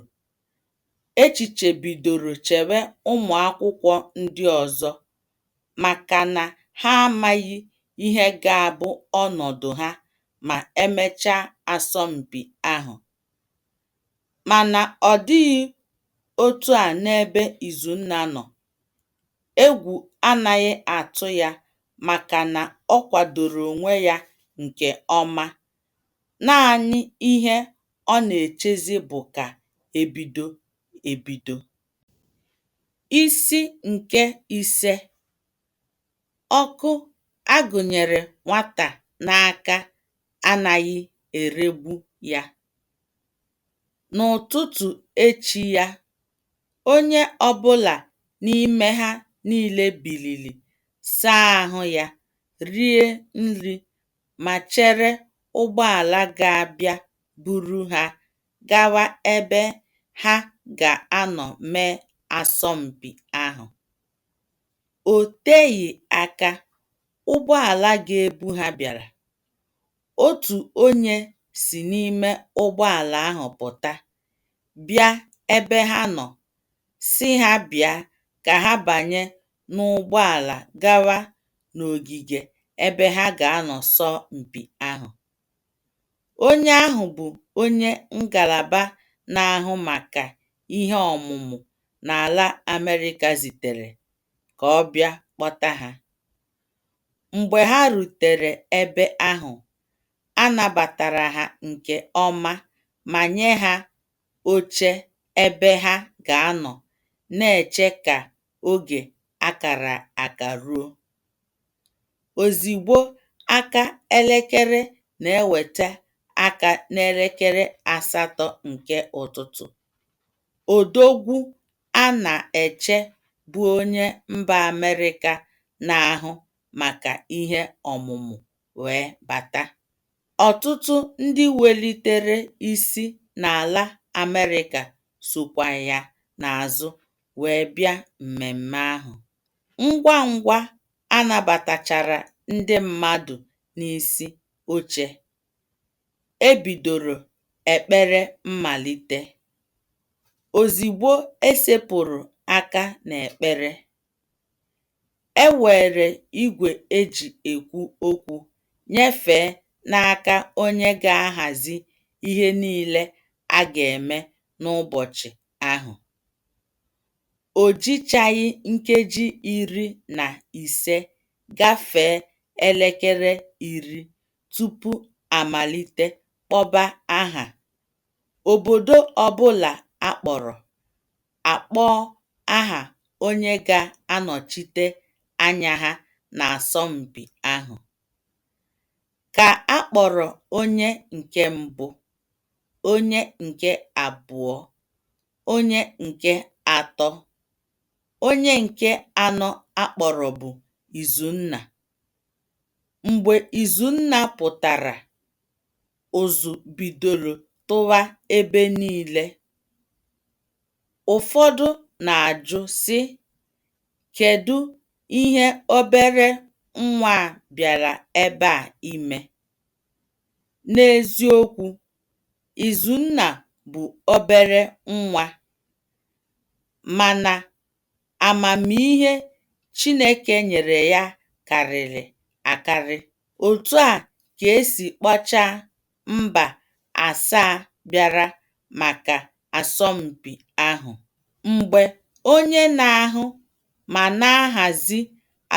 echiche bidoro chewe ụmụ akwụkwọ ndị ọzọ maka na ha amaghị ihe ga-abụ ọnọdụ ha ma e mechaa asọmpi ahụ. Mana ọ dịghị otu a n'ebe Izunna nọ. Egwu anaghị atụ ya maka na ọ kwadoro onwe ya nke ọma. Naanị ihe ọ na-echezi bụ ka e bido ebido. Isi nke ise, Ọkụ a gụnyere nwata n'aka anaghị eregbu ya. N'ụtụtụ echi ya, onye ọbụla n'ime ha niile biliri, saa ahụ ya, rie nri ma chere ụgbọala ga-abịa buru ha gawa ebe ha ga-anọ mee asọmpi ahụ. O teghị aka, ụgbọala ga-ebu ha bịara. Otu onye si n'ime ụgbọala ahụ pụta bịa ebe ha nọ sị ha bịa ka ha banye n'ụgbọala gawa n'ogige ebe ha ga-anọ sọọ mpi ahụ. Onye ahụ bụ onye ngalaba na-ahụ maka ihe ọmụmụ n'ala Amerịka zitere ka ọ bịa kpọta ha. Mgbe ha rutere ebe ahụ, a nabatara ha nke ọma ma nye ha oche ebe ha ga-anọ na-eche ka oge a kara aka ruo. Ozigbo aka elekere na-eweta aka n'elekere asatọ nke ụtụtụ, odogwu a na-eche bụ onye mba Amerịka na-ahụ maka ihe ọmụmụ wee bata. Ọtụtụ ndị welitere isi n'ala Amerịka sokwa ya n'azụ wee bịa mmemme ahụ. Ngwa ngwa a nabatachara ndị mmadụ n'isi oche, e bidoro ekpere mmalite. Ozigbo e sepụrụ aka n'ekpere, e weere igwe e ji ekwu okwu nyefee n'aka onye ga-ahazi ihe niile a ga-eme n'ụbọchị ahụ. O jichaghị nkeji iri na ise gafee elekere iri tupu a malite kpọba aha. Obodo ọ bụla a kpọrọ, a kpọọ aha onye ga-anọchite anya ha n'asọmpi ahụ. Ka a kpọrọ onye nke mbụ, onye nke abụọ, onye nke atọ. Onye nke anọ a kpọrọ bụ Izunna. Mgbe Izunna pụtara, ụzụ bidoro tụwa ebe niile. Ụfọdụ na-ajụ, sị, ‘ Kedụ ihe obere nwa a bịara ebe a ime? ’ N'eziokwu, Izunna bụ obere nwa. Mana amamihe Chineke nyere ya karịrị akarị. Otu a ka e si kpọchaa mba asaa bịara maka asọmpi ahụ. Mgbe onye na-ahụ ma na-ahazi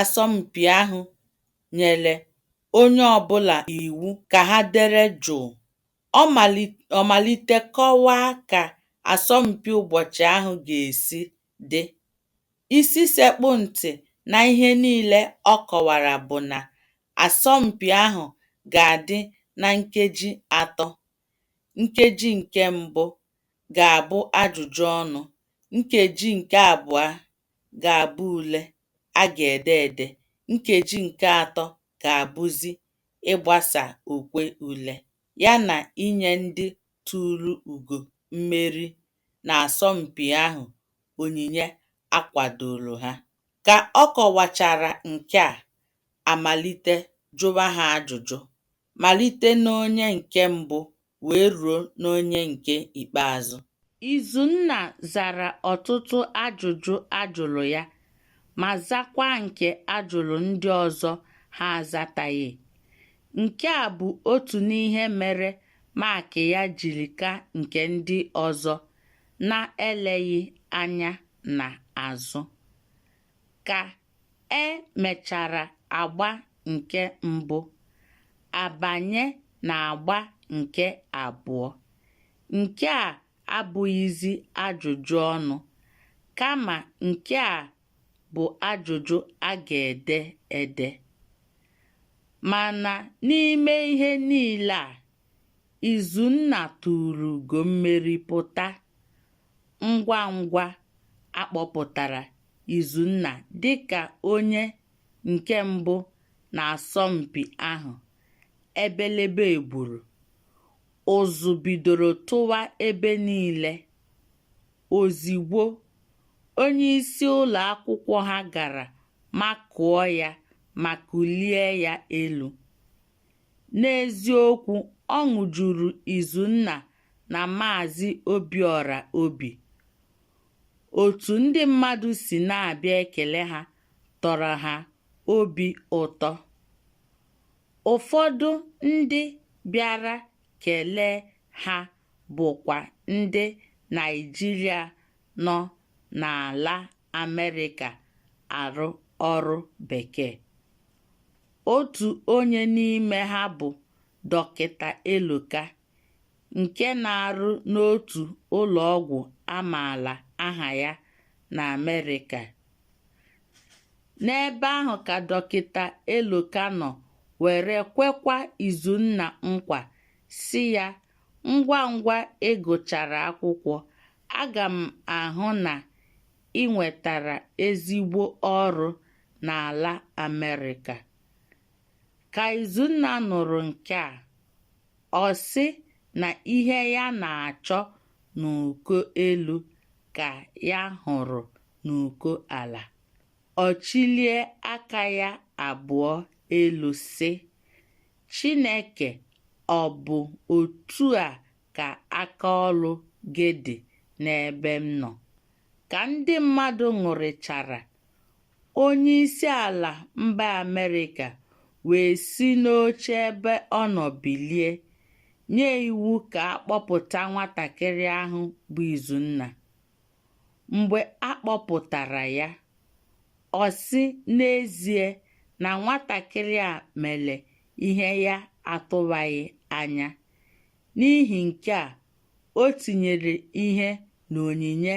asọmpi ahụ nyere onye ọbụla iwu ka ha dere jụụ, ọ malite kọwaa ka asọmpi ụbọchị ahụ ga-esi dị. Isi sekpụ ntị na ihe niile ọ kọwara bụ na Asọmpi ahụ ga-adị na nkeji atọ. Nkeji nke mbụ ga-abụ ajụjụ ọnụ, nkeji nke abụọ ga-abụ ule a ga-ede ede, nkeji nke atọ ga-abụzi ịgbasa okwe ule ya na inye ndị tuuru ugo mmeri n'asọmpi ahụ onyinye a kwadooro ha. Ka ọ kọwachara nke a, a malite jụwa ha ajụjụ, malite n'onye nke mbụ wee ruo n'onye nke ikpeazụ. Izunna zara ọtụtụ ajụjụ a jụrụ ya ma zakwaa nke a jụrụ ndị ọzọ ha azataghị. Nke a bụ otu n'ihe mere maakị ya jiri ka nke ndị ọzọ na-eleghị anya n'azụ. Ka e mechara agba nke mbụ a banye n'agba nke abụọ nke a abụghịzi ajụjụ ọnụ kama nke a bụ ajụjụ a ga-ede ede mana n'ime ihe niile a Izunna tuuru ugo mmeri pụta ngwa ngwa a kpọpụtara Izunna dịka onye nke mbụ n'asọmpi ahụ, ebelebe egburu, ụzụ bidoro tụwa ebe niile. Ozigbo, onyeisi ụlọ akwụkwọ ha gara makụọ ya ma kulie ya elu. N'eziokwu, ọṅụ juru Izunna na Maazị Obiọra obi. Otu ndị mmadụ si na-abịa ekele ha tọrọ ha obi ụtọ. Ụfọdụ ndị bịara kelee ha bụkwa ndị Naịjirịa nọ n'ala Amerịka arụ ọrụ Bekee. otu onye n'ime ha bụ dọkịta Eloka nke na-arụ n'otu ụlọ ọgwụ a maala aha ya na Amerịka. N'ebe ahụ ka dọkịta Eloka nọ were kwekwa Izunna nkwa sị ya ngwa ngwa ị gụchara akwụkwọ aga m ahụ na i nwetara ezigbo ọrụ n'ala Amerịka. Ka Izunna nụrụ nke a, ọ sị na ihe ya na-achọ n'uko elu ka ya hụrụ n'uko ala. Ọ chịlie aka ya abụọ elu sị, Chineke ọ bụ otu a ka aka ọrụ gị dị n'ebe m nọ. Ka ndị mmadụ ṅụrịchara, onye isi ala mba Amerịka wee si n'oche ebe ọ nọ bilie, nye iwu ka a kpọpụta nwatakịrị ahụ bụ Izunna. Mgbe a kpọpụtara ya, ọ sị n'ezie na nwatakịrị a mere ihe ya atụwaghị anya. N'ihi nke a, o tinyere ihe n'onyinye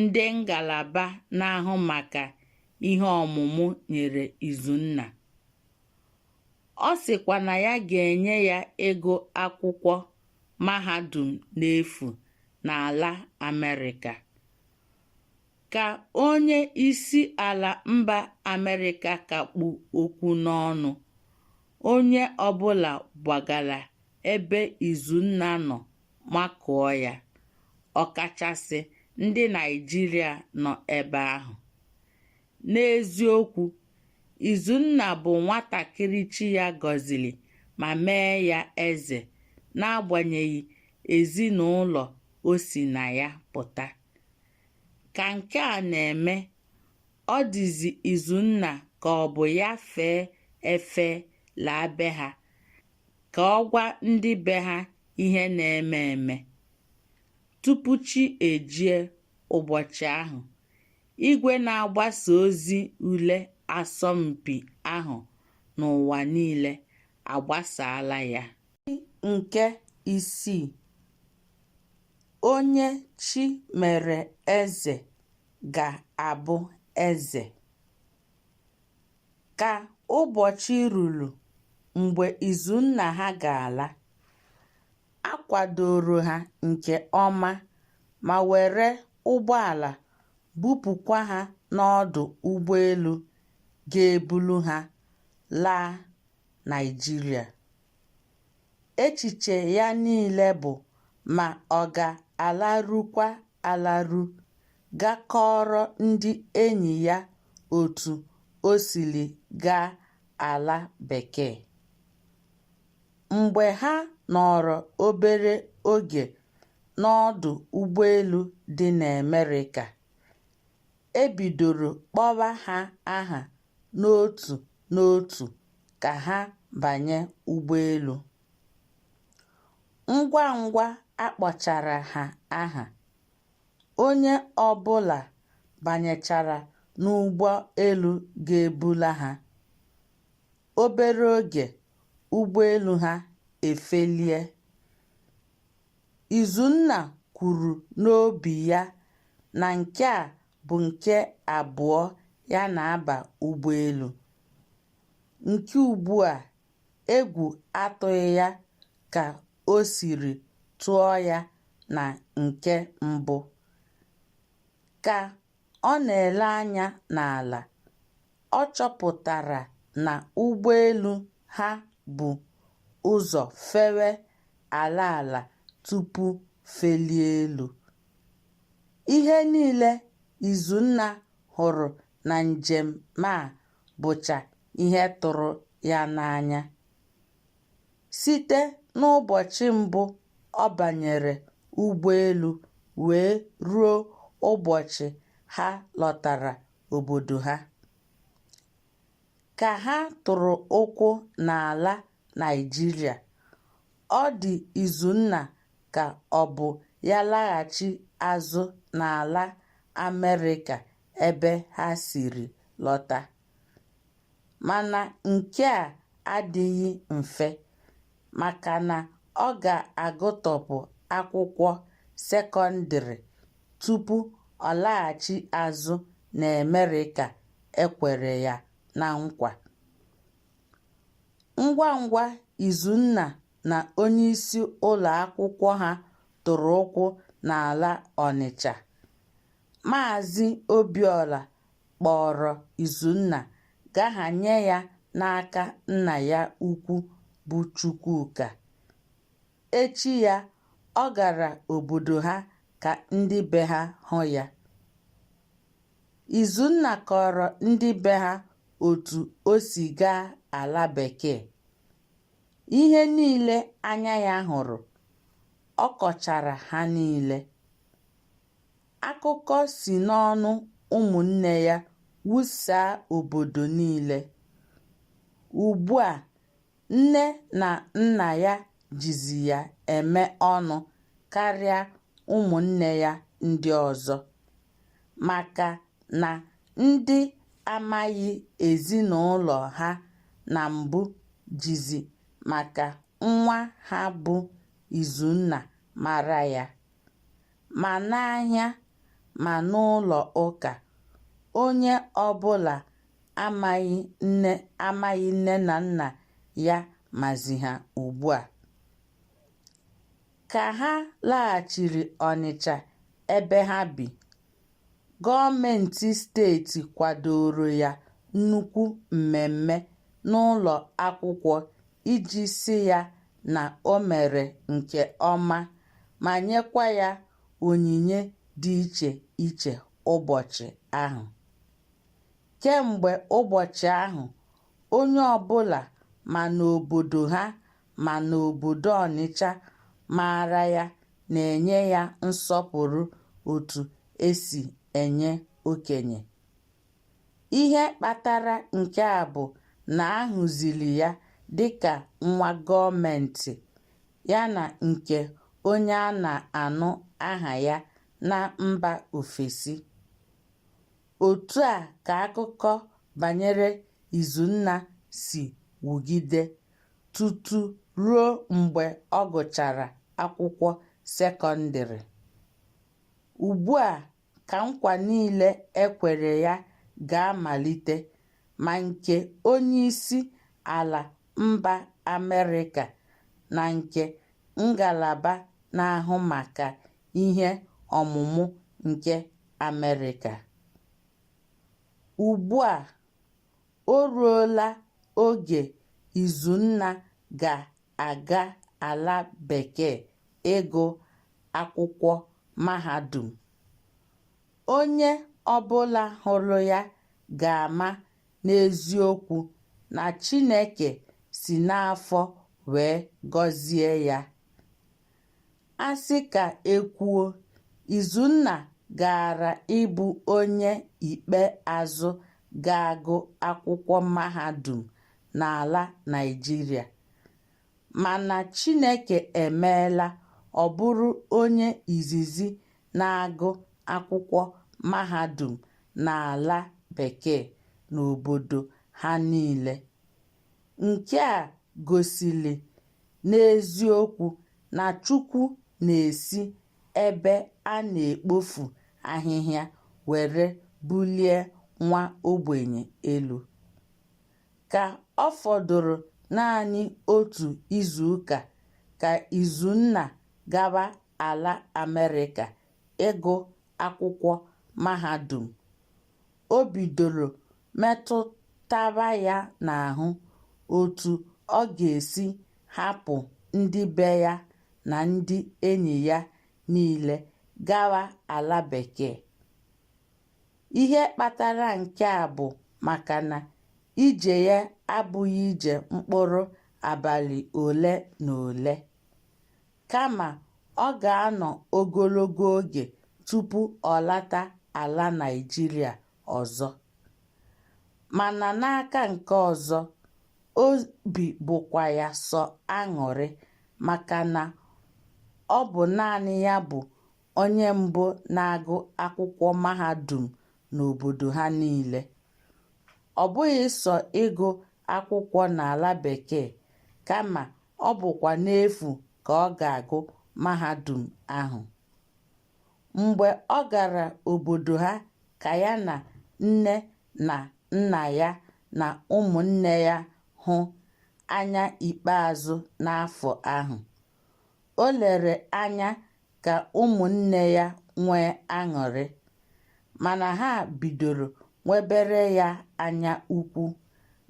ndị ngalaba na-ahụ maka ihe ọmụmụ nyere Izunna. Ọ sịkwa na ya ga-enye ya ego akwụkwọ mahadum n'efu n'ala Amerịka. ka onye isi ala mba Amerịka ka kpụ okwu n'ọnụ, onye ọbụla gbagara ebe Izunna nọ makụọ ya, ọkachasị ndị Naịjirịa nọ ebe ahụ. N'eziokwu, Izunna bụ nwatakịrị chi ya gọziri ma mee ya eze n'agbanyeghị ezinụlọ o si na ya pụta. Ka nke a na-eme, ọ dịzi Izunna ka ọ bụ ya fee efe laa be ha ka ọ gwa ndị be ha ihe na-eme eme. Tupu chi ejie ụbọchị ahụ, igwe na-agbasa ozi ule asọmpi ahụ n'ụwa niile agbasaala ya. nke isii, onye chi mere eze ga-abụ eze. Ka ụbọchị ruru mgbe Izunna ha ga-ala, a kwadoro ha nke ọma ma were ụgbọala bupụkwa ha n'ọdụ ụgbọelu ga-eburu ha laa Naịjirịa. Echiche ya niile bụ ma ọ ga-alarukwa alaru ga kọọrọ ndị enyi ya otu o siri gaa ala Bekee. Mgbe ha nọrọ obere oge n'ọdụ ụgbọelu dị n'Amerịka, e bidoro kpọwa ha aha n'otu n'otu ka ha banye ụgbọelu. Ngwa ngwa a kpọchara ha aha, onye ọ bụla banyechara n'ụgbọelu ga-ebula ha. Obere oge, ụgbọelu ha efelie. Izunna kwuru n'obi ya na nke a bụ nke abụọ ya na-aba ụgbọelu. Nke ugbu a, egwu atụghị ya ka o siri tụọ ya na nke mbụ. Ka ọ na-ele anya n'ala, ọ chọpụtara na ụgbọelu ha bu ụzọ fewe ala ala tupu felie elu. Ihe niile Izunna hụrụ na njem a bụcha ihe tụrụ ya n'anya. Site n'ụbọchị mbụ ọ banyere ụgbọelu wee ruo ụbọchị ha lọtara obodo ha, Ka ha tụrụ ụkwụ n'ala Naịjirịa, ọ dị Izunna ka ọ bụ ya laghachi azụ n'ala Amerịka ebe ha siri lọta. Mana nke a adịghị mfe maka na ọ ga-agụtọpụ akwụkwọ sekọndịrị tupu ọ laghachi azụ n'Amerịka e kwere ya na nkwa. Ngwa ngwa Izunna na onyeisi ụlọ akwụkwọ ha tụrụ ụkwụ n'ala Ọnịcha, Maazị Obiọra kpọọrọ Izunna ga hanye ya n'aka nna ya ukwu bụ Chukwuka. Echi ya, ọ gara obodo ha ka ndị be ha hụ ya. Izunna kọọrọ ndị be ha otu o si gaa ala Bekee. Ihe niile anya ya hụrụ, ọ kọchara ha niile. Akụkọ si n'ọnụ ụmụnne ya wusaa obodo niile. Ugbu a, nne na nna ya jizi ya eme ọnụ karịa ụmụnne ya ndị ọzọ maka na ndị amaghị ezinụlọ ha na mbụ jizi maka nwa ha bụ Izunna mara ya. Ma n'ahịa ma n'ụlọ ụka, onye ọbụla amaghị nne na nna ya mazi ha ugbu a. Ka ha laghachiri Ọnịcha ebe ha bi, gọọmenti steeti kwadoro ya nnukwu mmemme n'ụlọ akwụkwọ iji sị ya na o mere nke ọma ma nyekwa ya onyinye dị iche iche ụbọchị ahụ. Kemgbe ụbọchị ahụ, onye ọbụla ma n'obodo ha ma n'obodo Ọnịcha maara ya na-enye ya nsọpụrụ otu e si enye okenye. Ihe kpatara nke a bụ na a hụziri ya dịka nwa gọọmentị yana nke onye a na-anụ aha ya na mba ofesi. Otu a ka akụkọ banyere Izunna si wugide tutu ruo mgbe ọ gụchara akwụkwọ sekọndịrị. Ugbu a ka nkwa niile e kwere ya ga-amalite ma nke onyeisi ala mba Amerịka na nke ngalaba na-ahụ maka ihe ọmụmụ nke Amerịka. Ugbu a, o ruola oge Izunna ga-aga ala Bekee ịgụ akwụkwọ mahadum. Onye ọbụla hụrụ ya ga-ama n'eziokwu na Chineke si n'afọ wee gọzie ya. A sị ka e kwuo, Izunna gaara ịbụ onye ikpe azụ ga-agụ akwụkwọ mahadum n'ala Naịjirịa. Mana Chineke emeela ọ bụrụ onye izizi na-agụ akwụkwọ mahadum n'ala Bekee n'obodo ha niile. Nke a gosiri n'eziokwu na Chukwu na-esi ebe a na-ekpofu ahịhịa were bulie nwa ogbenye elu. Ka ọ fọdụrụ naanị otu izuụka ka Izunna gawa ala Amerịka ịgụ akwụkwọ mahadum. O bidoro metụtaba ya n'ahụ otu ọ ga-esi hapụ ndị be ya na ndị enyi ya niile gawa ala Bekee. Ihe kpatara nke a bụ maka na ije ya abụghị ije mkpụrụ abalị ole na ole. kama ọ ga-anọ ogologo oge tupu ọ lata ala Naịjirịa ọzọ. Mana n'aka nke ọzọ, obi bụkwa ya sọ aṅụrị maka na ọ bụ naanị ya bụ onye mbụ na-agụ akwụkwọ mahadum n'obodo ha niile. Ọ bụghị sọ ịgụ akwụkwọ n'ala Bekee kama ọ bụkwa n'efu ka ọ ga-agụ mahadum ahụ. Mgbe ọ gara obodo ha ka ya na nne na nna ya na ụmụnne ya hụ anya ikpeazụ n'afọ ahụ, o lere anya ka ụmụnne ya nwee aṅụrị, mana ha bidoro nwebere ya anya ukwu.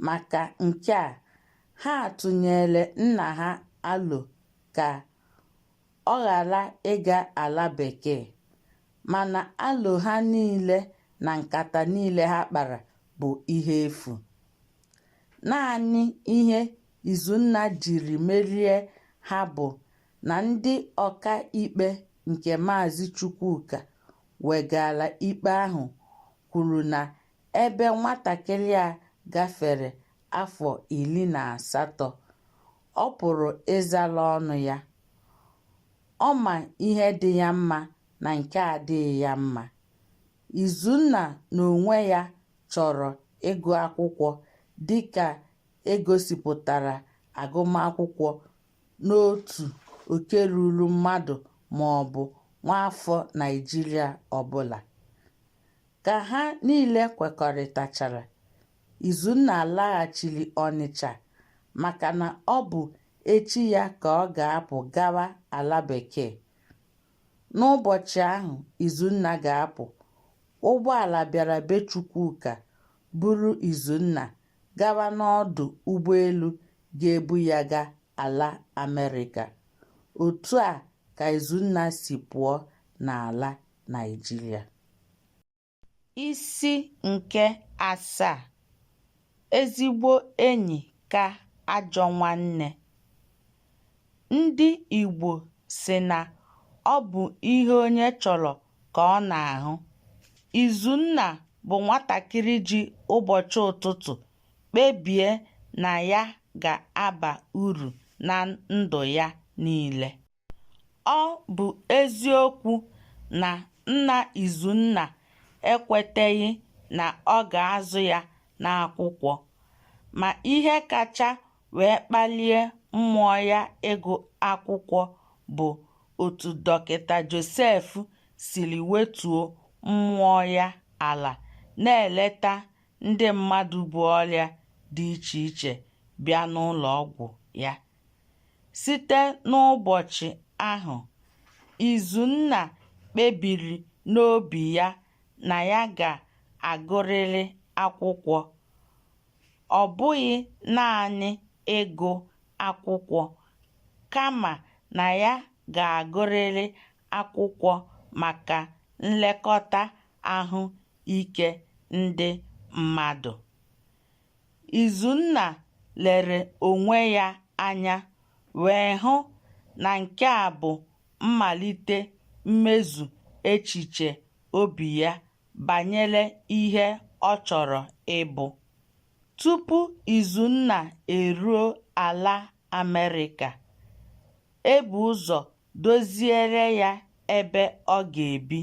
Maka nke a, Ha tụnyeere nna ha alo ka ọ ghara ịga ala Bekee, mana alo ha niile na nkata niile ha kpara bụ ihe efu. Naanị ihe Izunna jiri merie ha bụ na ndị ọka ikpe nke Maazị Chukwuka wegaara ikpe ahụ kwuru na Ebe nwatakịrị a gafere afọ iri na asatọ, ọ pụrụ ịzala ọnụ ya. Ọ ma ihe dị ya mma na nke adịghị ya mma. Izunna n'onwe ya chọrọ ịgụ akwụkwọ dị ka e gosipụtara agụmakwụkwọ n'otu oke ruru mmadụ ma ọ bụ nwaafọ Naịjirịa ọbụla. Ka ha niile kwekọrịtachara, Izunna laghachiri Ọnịcha maka na ọ bụ echi ya ka ọ ga-apụ gawa ala bekee. N'ụbọchị ahụ Izunna ga-apụ, ụgbọala bịara be Chukwuka buru Izunna gawa n'ọdụ ụgbọelu ga-ebu ya ga ala Amerịka. Otu a ka Izunna si pụọ n'ala Naịjirịa. Isi nke asaa, Ezigbo enyi ka ajọ nwanne. Ndị Igbo sị na ọ bụ ihe onye chọrọ ka ọ na-ahụ. Izunna bụ nwatakịrị ji ụbọchị ụtụtụ kpebie na ya ga-aba uru na ndụ ya niile. Ọ bụ eziokwu na nna Izunna ekweteghị na ọ ga-azụ ya n'akwụkwọ, ma ihe kacha wee kpalie mmụọ ya ịgụ akwụkwọ bụ otu Dọkịta Josef siri wetuo mmụọ ya ala na-eleta ndị mmadụ bu ọrịa dị iche iche bịa n'ụlọọgwụ ya. Site n'ụbọchị ahụ, Izunna kpebiri n'obi ya na ya ga-agụrịrị akwụkwọ. Ọ bụghị naanị ịgụ akwụkwọ, kama na ya ga-agụrịrị akwụkwọ maka nlekọta ahụ ike ndị mmadụ. Izunna lere onwe ya anya wee hụ na nke a bụ mmalite mmezu echiche obi ya banyere ihe ọ chọrọ ịbụ. Tupu Izunna eruo ala Amerịka, e bu ụzọ doziere ya ebe ọ ga-ebi.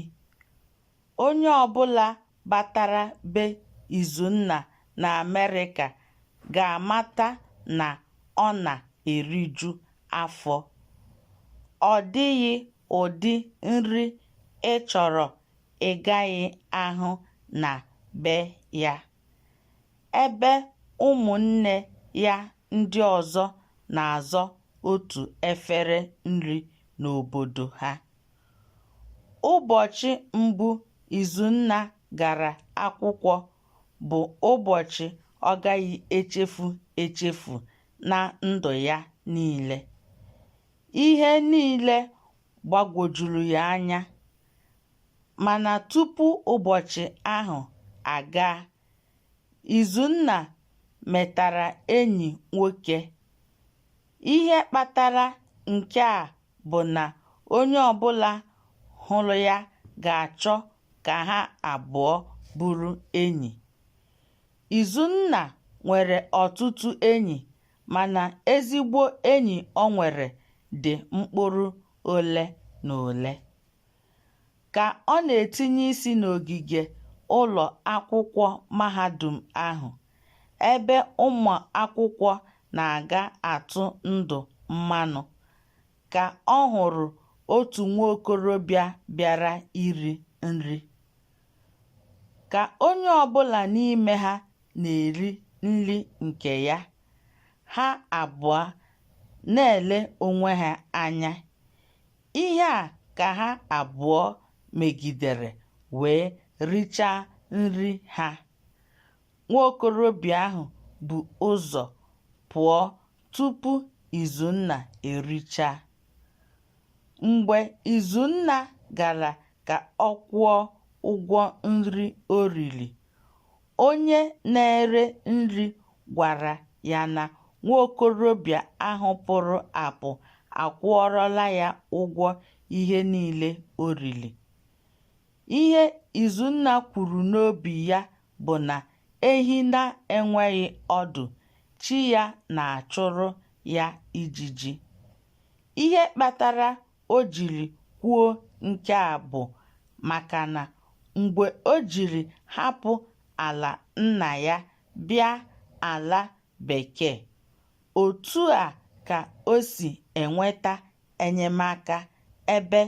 Onye ọbụla batara be Izunna n'Amerịka ga-amata na ọ na-eriju afọ. Ọ dịghị ụdị nri ị chọrọ ị gaghị ahụ na be ya. Ebe ụmụnne ya ndị ọzọ na-azọ otu efere nri n'obodo ha. Ụbọchị mbụ Izunna gara akwụkwọ bụ ụbọchị ọ gaghị echefu echefu na ndụ ya niile. Ihe niile gbagwojuru ya anya, mana tupu ụbọchị ahụ agaa, Izunna metara enyi nwoke. Ihe kpatara nke a bụ na onye ọbụla hụrụ ya ga-achọ ka ha abụọ bụrụ enyi. Izunna nwere ọtụtụ enyi mana ezigbo enyi o nwere dị mkpụrụ ole na ole. Ka ọ na-etinye isi n'ogige ụlọ akwụkwọ mahadum ahụ, ebe ụmụ akwụkwọ na-aga atụ ndụ mmanụ, ka ọ hụrụ otu nwa okorobịa bịara iri nri. Ka onye ọ bụla n'ime ha na-eri nri nke ya, ha abụọ na-ele onwe ha anya. Ihe a ka ha abụọ megidere wee richaa nri ha. Nwa okorobịa ahụ bu ụzọ pụọ tupu Izunna erichaa. Mgbe Izunna gara ka ọ kwụọ ụgwọ nri o riri, Onye na-ere nri gwara ya na nwa okorobịa ahụ pụrụ apụ akwụọrọla ya ụgwọ ihe niile o riri. Ihe Izunna kwuru n'obi ya bụ na ehi na-enweghị ọdụ, chi ya na-achụrụ ya ijiji. Ihe kpatara o jiri kwuo nke a bụ maka na mgbe o jiri hapụ ala nna ya bịa ala Bekee, otu a ka o si enweta enyemaka ebe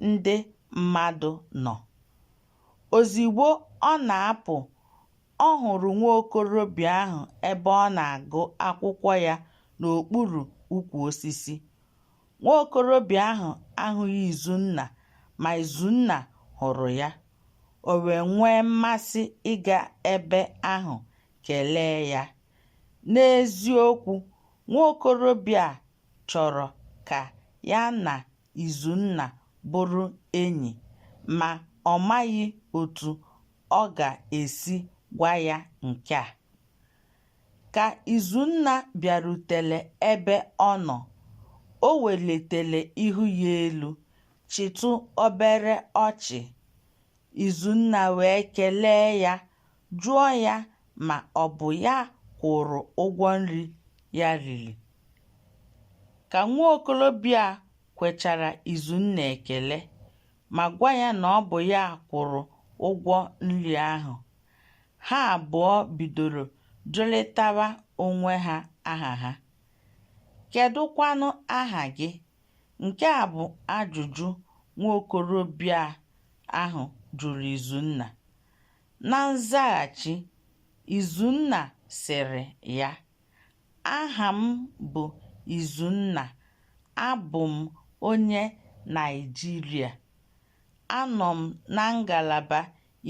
ndị mmadụ nọ. Ozigbo ọ na-apụ, ọ hụrụ nwa okorobịa ahụ ebe ọ na-agụ akwụkwọ ya n'okpuru ukwu osisi. Nwa okorobịa ahụ ahụghị Izunna ma Izunna hụrụ ya, o wee nwee mmasị ịga ebe ahụ kelee ya. N'eziokwu, nwa okorobịa a chọrọ ka ya na Izunna bụrụ enyi, ma ọ maghị otu ọ ga-esi gwa ya nke a. Ka Izunna bịarutere ebe ọ nọ, o welitere ihu ya elu, chịtụ obere ọchị. Izunna wee kelee ya, jụọ ya ma ọ bụ ya kwụrụ ụgwọ nri ya riri. Ka nwa okorobịa a kwechara Izunna ekele, ma gwa ya na ọ bụ ya kwụrụ ụgwọ nri ahụ. Ha abụọ bidoro jụrịtawa onwe ha aha ha. Kedụkwanụ aha gị? Nke a bụ ajụjụ nwa okorobịa ahụ jụrụ Izunna. Na nzaghachi, Izunna sịrị ya, Aha m bụ Izunna. Abụ m onye Naịjirịa. Anọ m na ngalaba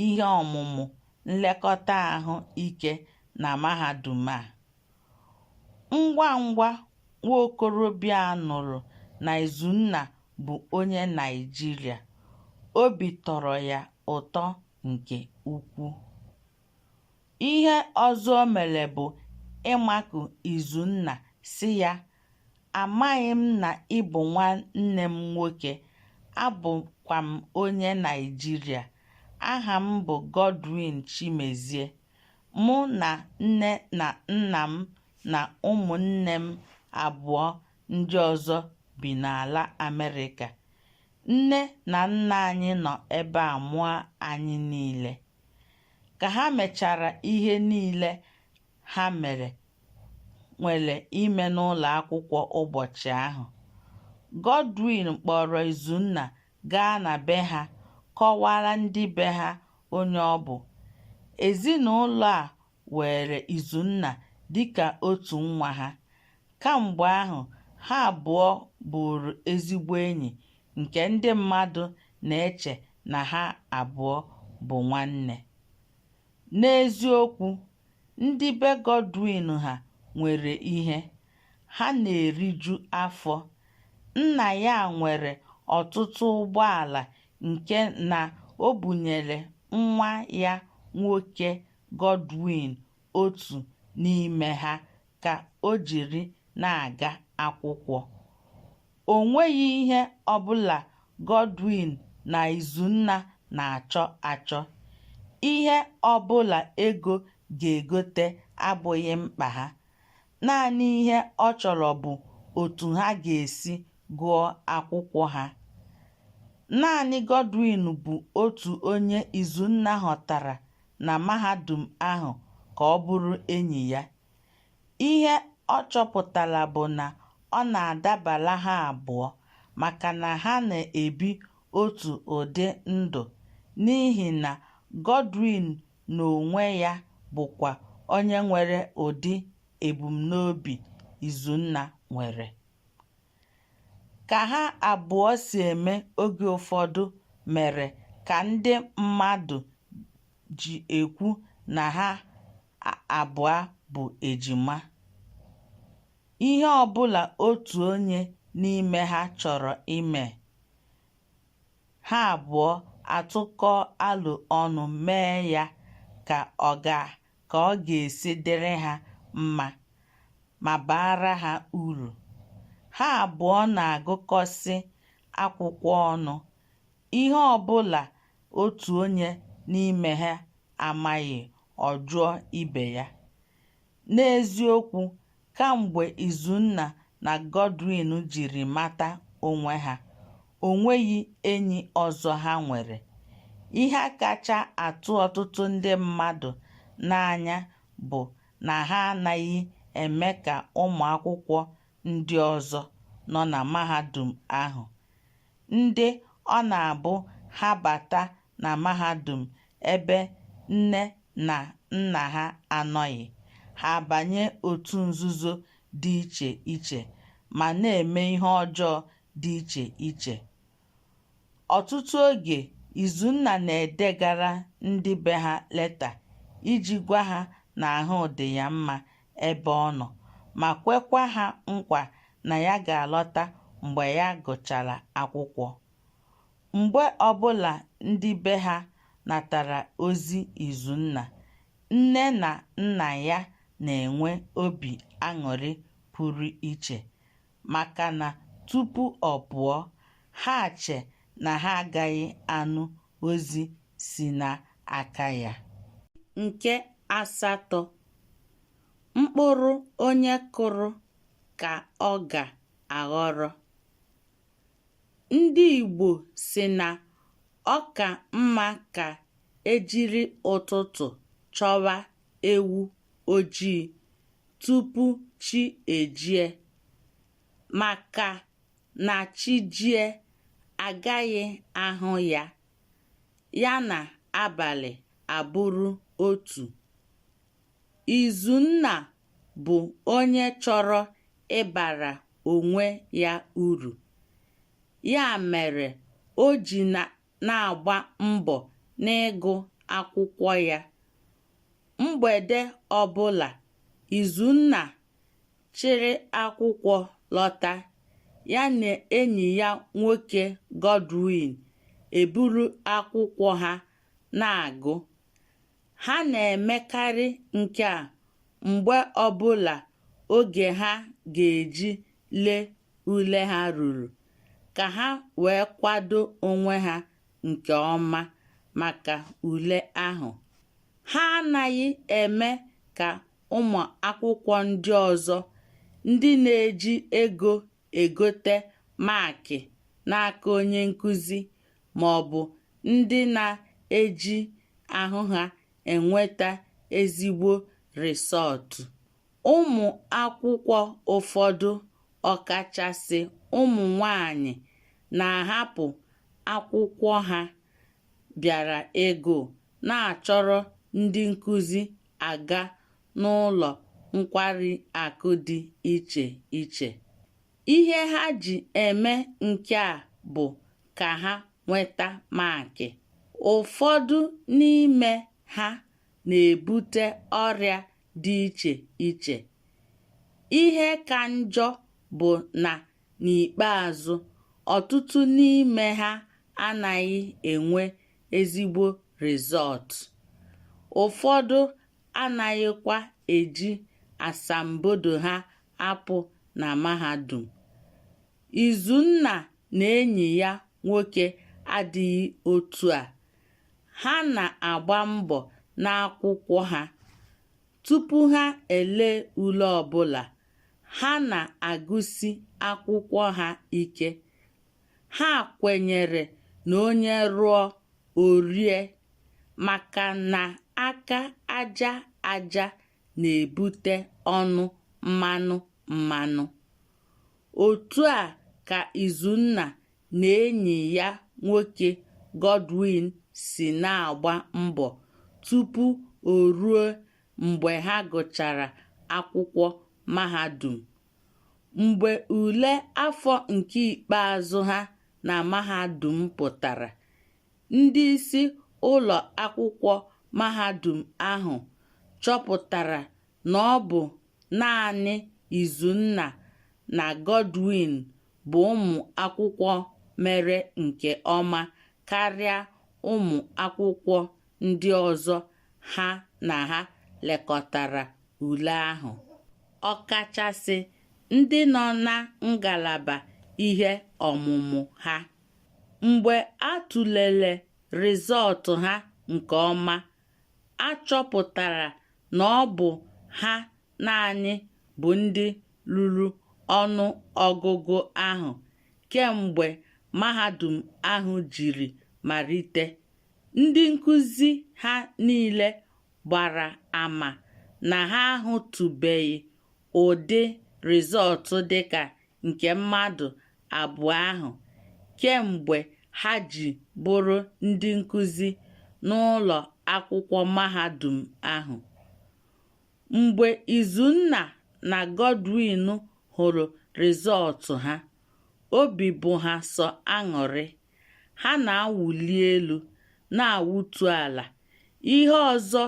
ihe ọmụmụ nlekọta ahụ ike na mahadum a. Ngwa ngwa nwa okorobịa a nụrụ na Izunna bụ onye Naịjirịa, obi tọrọ ya ụtọ nke ukwuu. Ihe ọzọ o mere bụ ịmakụ Izunna sị ya, Amaghị m na ị bụ nwanne m nwoke, abụkwa m onye Naịjirịa. Aha m bụ Godwin Chimezie. Mụ na nne na nna m na ụmụnne m abụọ ndị ọzọ bi n'ala Amerịka. Nne na nna anyị nọ ebe a mụọ anyị niile. ka ha mechara ihe niile ha mere nwere ime n'ụlọ akwụkwọ ụbọchị ahụ. Godwin kpọrọ Izunna gaa na be ha kọwara ndị be ha onye ọ bụ. Ezinụlọ a weere Izunna dịka otu nwa ha. Kamgbe ahụ, ha abụọ bụụrụ ezigbo enyi nke ndị mmadụ na-eche na ha abụọ bụ nwanne. N'eziokwu, ndị be Godwin ha nwere ihe, ha na-eriju afọ. Nna ya nwere ọtụtụ ụgbọala nke na o bunyere nwa ya nwoke Godwin otu n'ime ha ka o jiri na-aga akwụkwọ. O nweghị ihe ọbụla Godwin na Izunna na-achọ achọ. Ihe ọbụla ego ga-egote abụghị mkpa ha. Naanị ihe ọ chọrọ bụ otu ha ga-esi gụọ akwụkwọ ha. Naanị Godwin bụ otu onye Izunna họtara na mahadum ahụ ka ọ bụrụ enyi ya. Ihe ọ chọpụtara bụ na ọ na-adabara ha abụọ maka na ha na-ebi otu ụdị ndụ n'ihi na Godwin n'onwe ya bụkwa onye nwere ụdị ebumnobi Izunna nwere. Ka ha abụọ si eme oge ụfọdụ mere ka ndị mmadụ ji ekwu na ha abụọ bụ ejima. Ihe ọ bụla otu onye n'ime ha chọrọ ime, ha abụọ atụkọọ alo ọnụ mee ya ka ọ ka ọ ga-esi dịrị ha mma ma baara ha uru. Ha abụọ na-agụkọsị akwụkwọ ọnụ, ihe ọ bụla otu onye n'ime ha amaghị, ọ jụọ ibe ya. N'eziokwu, Kamgbe Izunna na Godwin jiri mata onwe ha, o nweghị enyi ọzọ ha nwere. Ihe kacha atụ ọtụtụ ndị mmadụ n'anya bụ na ha anaghị eme ka ụmụ akwụkwọ ndị ọzọ nọ na mahadum ahụ. ndị ọ na-abụ ha bata na mahadum ebe nne na nna ha anọghị, ha abanye otu nzuzo dị iche iche ma na-eme ihe ọjọọ dị iche iche. Ọtụtụ oge, Izunna na-edegara ndị be ha leta iji gwa ha na ahụ dị ya mma ebe ọ nọ ma kwekwa ha nkwa na ya ga-alọta mgbe ya gụchara akwụkwọ. Mgbe ọbụla ndị be ha natara ozi Izunna, nne na nna ya na-enwe obi aṅụrị pụrụ iche. maka na tupu ọ pụọ, ha che na ha agaghị anụ ozi si n'aka ya. Nke asatọ, mkpụrụ onye kụrụ ka ọ ga-aghọrọ. Ndị Igbo sị na ọ ka mma ka e jiri ụtụtụ chọwa ewu ojii tupu chi ejie, maka na chi jie a gaghị ahụ ya, ya na abalị abụrụ otu. Izunna bụ onye chọrọ ịbara onwe ya uru, ya mere o ji na na-agba mbọ n'ịgụ akwụkwọ ya. Mgbede ọbụla, Izunna chịrị akwụkwọ lọta, ya na enyi ya nwoke Godwin eburu akwụkwọ ha na-agụ. ha na-emekarị nke a mgbe ọbụla oge ha ga-eji lee ule ha ruru ka ha wee kwado onwe ha nke ọma maka ule ahụ. Ha anaghị eme ka ụmụ akwụkwọ ndị ọzọ ndị na-eji ego egote maakị n'aka onye nkụzi ma ọ bụ ndị na-eji ahụ ha enweta ezigbo rịsọọtụ. Ụmụ akwụkwọ ụfọdụ ọkachasị ụmụ nwanyị na-ahapụ akwụkwọ ha bịara ịgụ na-achọrọ ndị nkụzi aga n'ụlọ nkwari akụ dị iche iche. Ihe ha ji eme nke a bụ ka ha nweta maakị. Ụfọdụ n'ime ha na-ebute ọrịa dị iche iche. Ihe ka njọ bụ na n'ikpeazụ, ọtụtụ n'ime ha anaghị enwe ezigbo rịzọọtụ. Ụfọdụ anaghịkwa eji asambodo ha apụ na mahadum. Izunna na enyi ya nwoke adịghị otu a. Ha na-agba mbọ n'akwụkwọ ha. Tupu ha ele ule ọbụla, ha na-agụsi akwụkwọ ha ike. ha kwenyere na onye rụọ o rie maka na aka aja aja na-ebute ọnụ mmanụ mmanụ. Otu a ka Izunna na enyi ya nwoke Godwin si na-agba mbọ tupu o ruo mgbe ha gụchara akwụkwọ mahadum. Mgbe ule afọ nke ikpeazụ ha na mahadum pụtara, ndị isi ụlọ akwụkwọ mahadum ahụ chọpụtara na ọ bụ naanị Izunna na Godwin bụ ụmụ akwụkwọ mere nke ọma karịa ụmụ akwụkwọ ndị ọzọ ha na ha lekọtara ule ahụ ọkachasị ndị nọ na ngalaba ihe ọmụmụ ha mgbe a tụlere rịzọọtụ ha nke ọma a chọpụtara na ọ bụ ha naanị bụ ndị ruru ọnụ ọgụgụ ahụ kemgbe mahadum ahụ jiri malite. Ndị nkụzi ha niile gbara ama na ha ahụtụbeghị ụdị rịzọọtụ dịka nke mmadụ abụọ ahụ kemgbe ha ji bụrụ ndị nkụzi n'ụlọ akwụkwọ mahadum ahụ. Mgbe Izunna na Godwin hụrụ rịzọọtụ ha, obi bụ ha sọ aṅụrị. ha na-awụli elu na-awụtu ala ihe ọzọ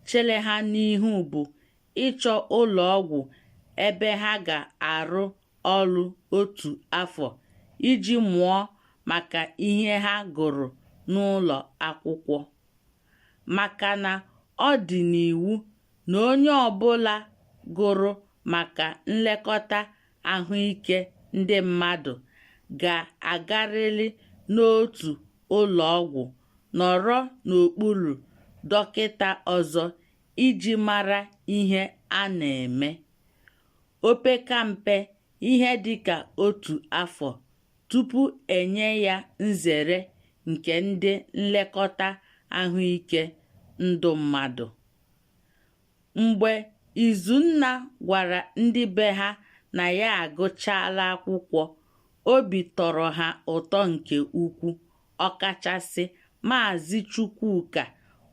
chere ha n'ihu bụ ịchọ ụlọ ọgwụ ebe ha ga-arụ ọrụ otu afọ iji mụọ maka ihe ha gụrụ n'ụlọ akwụkwọ maka na ọ dị n'iwu na onye ọbụla gụrụ maka nlekọta ahụike ndị mmadụ ga-agarịrị n'otu ụlọ ọgwụ nọrọ n'okpuru dọkịta ọzọ iji mara ihe a na-eme. Opekampe ihe dị ka otu afọ tupu e nye ya nzere nke ndị nlekọta ahụike ndụ mmadụ. mgbe Izunna gwara ndị be ha na ya agụchaala akwụkwọ, obi tọrọ ha ụtọ nke ukwu, ọkachasị Maazị Chukwuka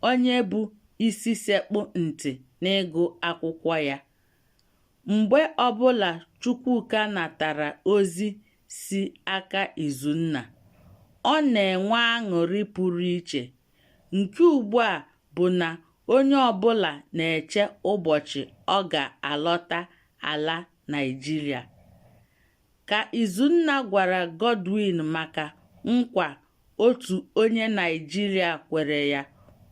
onye bụ isi sekpụ ntị n'ịgụ akwụkwọ ya. Mgbe ọbụla Chukwuka natara ozi si aka Izunna, ọ na-enwe aṅụrị pụrụ iche Nke ugbu a bụ na onye ọbụla na-eche ụbọchị ọ ga-alọta ala Naịjirịa. Ka Izunna gwara Godwin maka nkwa otu onye Naịjirịa kwere ya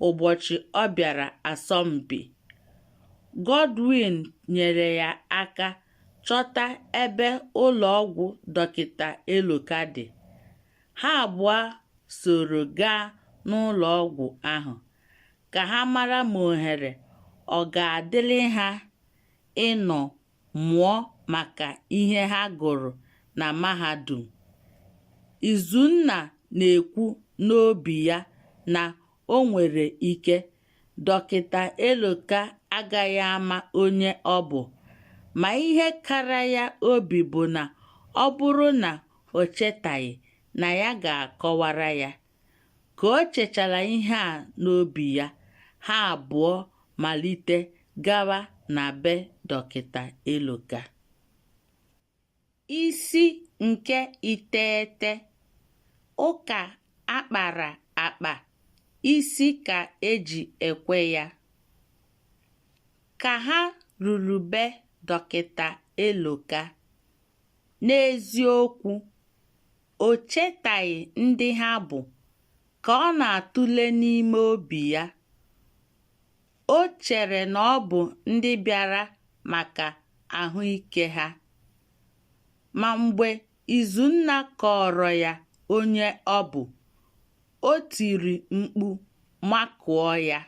ụbọchị ọ bịara asọmpi, Godwin nyere ya aka chọta ebe ụlọ ọgwụ Dọkịta Eloka dị. ha abụọ soro gaa n'ụlọ ọgwụ ahụ ka ha mara ma ohere ọ ga-adịrị ha ịnọ mụọ maka ihe ha gụrụ na mahadum. Izunna na-ekwu n'obi ya na o nwere ike Dọkịta Eloka agaghị ama onye ọ bụ, ma ihe kara ya obi bụ na ọ bụrụ na o chetaghị na ya ga-akọwara ya. Ka o chechara ihe a n'obi ya, ha abụọ malite gawa na be Dọkịta Eloka. Isi nke iteghete Ụka akpara akpa, isi ka e ji ekwe ya. Ka ha ruru be Dọkịta Eloka, N'eziokwu, o chetaghị ndị ha bụ ka ọ na-atụle n'ime obi ya. O chere na ọ bụ ndị bịara maka ahụike ha. Ma mgbe Izunna kọọrọ ya onye ọ bụ, o tiri mkpu makụọ ya.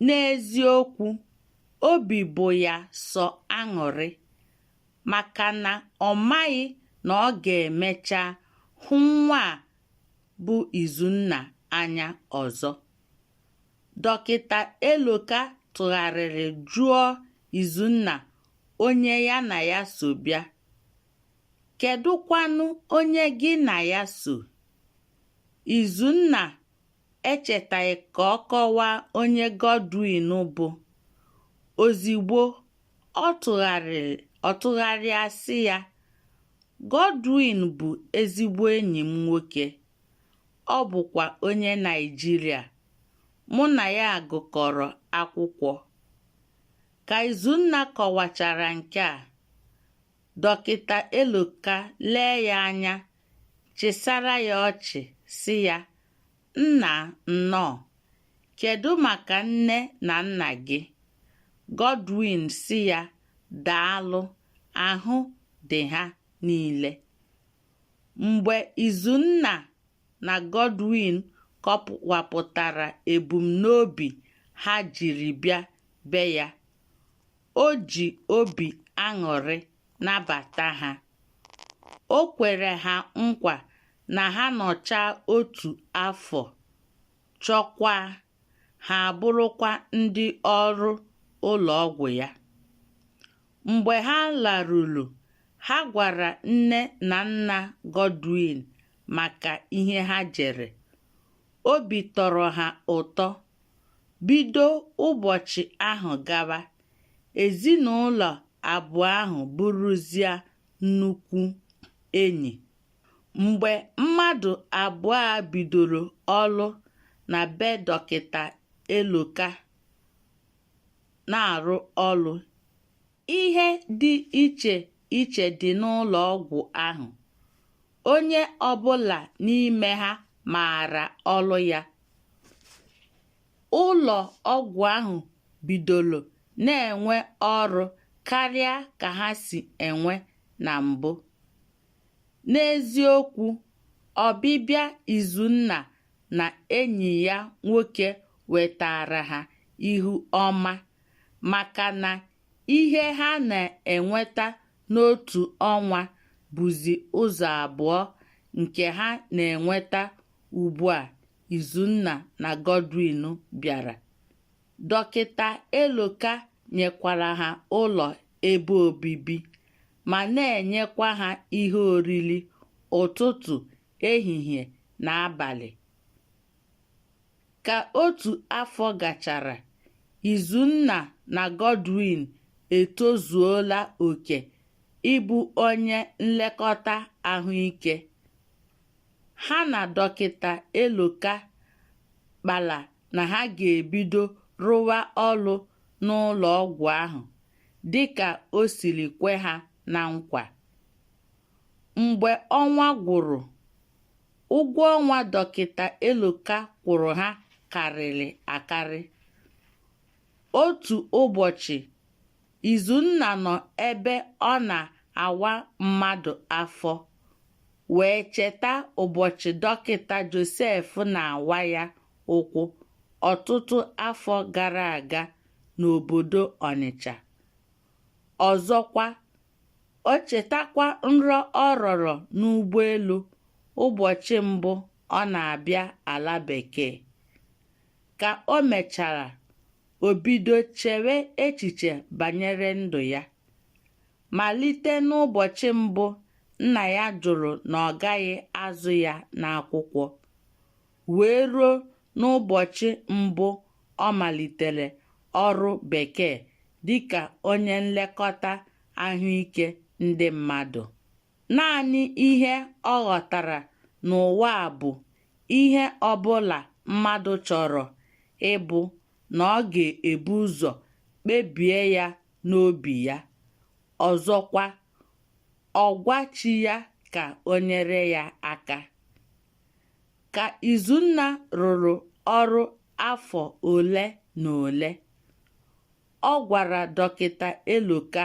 N'eziokwu, obi bụ ya sọ aṅụrị maka na ọ maghị na ọ ga-emecha hụ nwa a bụ Izunna anya ọzọ. Dọkịta Eloka tụgharịrị jụọ Izunna onye ya na ya so bịa. Kedụkwanụ onye gị na ya so? Izunna echetaghị ka ọ kọwaa onye Godwin bụ. Ozigbo ọ tụ ọ tụgharịa sị ya, Godwin bụ ezigbo enyi m nwoke, ọ bụkwa onye Naịjirịa, mụ na ya gụkọrọ akwụkwọ. Ka Izunna kọwachara nke a, Dọkịta Eloka lee ya anya chịsara ya ọchị sị ya nna nnọọ kedụ maka nne na nna gị Godwin sị ya daalụ ahụ dị ha niile mgbe Izunna na Godwin kọwapụtara ebumnobi ha jiri bịa be ya O ji obi aṅụrị nabata ha. O kwere ha nkwa na ha nọchaa otu afọ, chọkwaa, ha abụrụkwa ndị ọrụ ụlọ ọgwụ ya. Mgbe ha laruru, ha gwara nne na nna Godwin maka ihe ha jere Obi tọrọ ha ụtọ. Bido ụbọchị ahụ gawa, ezinụlọ abụọ ahụ bụrụzia nnukwu enyi. Mgbe mmadụ abụọ a bidoro ọrụ na be Dọkịta Eloka na-arụ ọrụ, Ihe dị iche iche dị n'ụlọ ọgwụ ahụ. Onye ọ bụla n'ime ha maara ọrụ ya. Ụlọ ọgwụ ahụ bidoro na-enwe ọrụ karịa ka ha si enwe na mbụ. N'eziokwu, ọbịbịa Izunna na enyi ya nwoke wetaara ha ihu ọma. maka na ihe ha na-enweta n'otu ọnwa bụzi ụzọ abụọ nke ha na-enweta ugbu a Izunna na Godwin bịara. Dọkịta Eloka nyekwara ha ụlọ ebe obibi ma na-enyekwa ha ihe oriri ụtụtụ, ehihie na abalị. Ka otu afọ gachara, Izunna na Godwin etozuola oke ịbụ onye nlekọta ahụike. Ha na Dọkịta Eloka kpara na ha ga-ebido rụwa ọrụ n'ụlọ ọgwụ ahụ dịka o siri kwe ha na nkwa. Mgbe ọnwa gwụrụ, ụgwọ ọnwa Dọkịta Eloka kwụrụ ha karịrị akarị. Otu ụbọchị, Izunna nọ ebe ọ na-awa mmadụ afọ wee cheta ụbọchị Dọkịta Josef na-awa ya ụkwụ ọtụtụ afọ gara aga n'obodo Ọnịcha. Ọzọkwa, o chetakwa nrọ ọ rọrọ n'ụgbọelu ụbọchị mbụ ọ na-abịa ala bekee ka o mechara o bido chewe echiche banyere ndụ ya malite n'ụbọchị mbụ nna ya jụrụ na ọ gaghị azụ ya n'akwụkwọ wee ruo n'ụbọchị mbụ ọ malitere ọrụ bekee dịka onye nlekọta ahụike ndị mmadụ. Naanị ihe ọ ghọtara n'ụwa a bụ ihe ọbụla mmadụ chọrọ ịbụ na ọ ga-ebu ụzọ kpebie ya n'obi ya. Ọzọkwa, ọ gwa chi ya ka o nyere ya aka. Ka Izunna rụrụ ọrụ afọ ole na ole, ọ gwara Dọkịta Eloka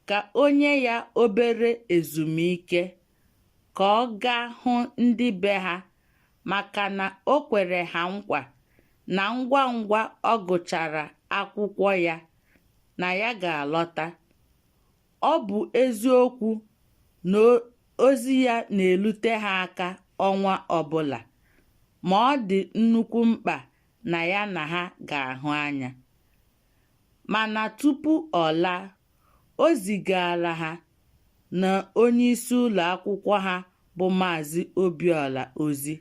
ka o nye ya obere ezumike ka ọ gaa hụ ndị be ha maka na o kwere ha nkwa na ngwa ngwa ọ gụchara akwụkwọ ya na ya ga-alọta. ọ bụ eziokwu na ozi ya na-elute ha aka ọnwa ọbụla, ma ọ dị nnukwu mkpa na ya na ha ga-ahụ anya. Mana tupu ọ laa, o zigaara ha na onyeisi ụlọ akwụkwọ ha bụ Maazị Obiọla ozi,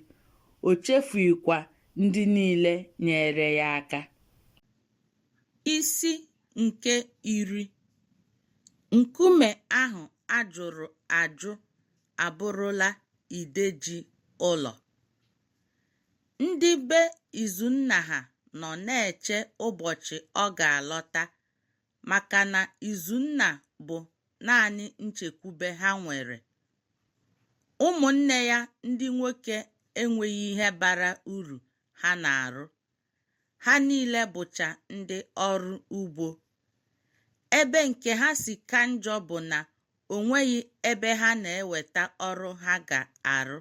o chefughịkwa ndị niile nyeere ya aka. Isi nke iri Nkume ahụ a jụrụ ajụ abụrụla ide ji ụlọ. Ndị be Izunna ha nọ na-eche ụbọchị ọ ga-alọta maka na Izunna bụ naanị nchekwube ha nwere. Ụmụnne ya ndị nwoke enweghị ihe bara uru ha na-arụ. ha niile bụcha ndị ọrụ ugbo. Ebe nke ha si ka njọ bụ na o nweghị ebe ha na-eweta ọrụ ha ga-arụ.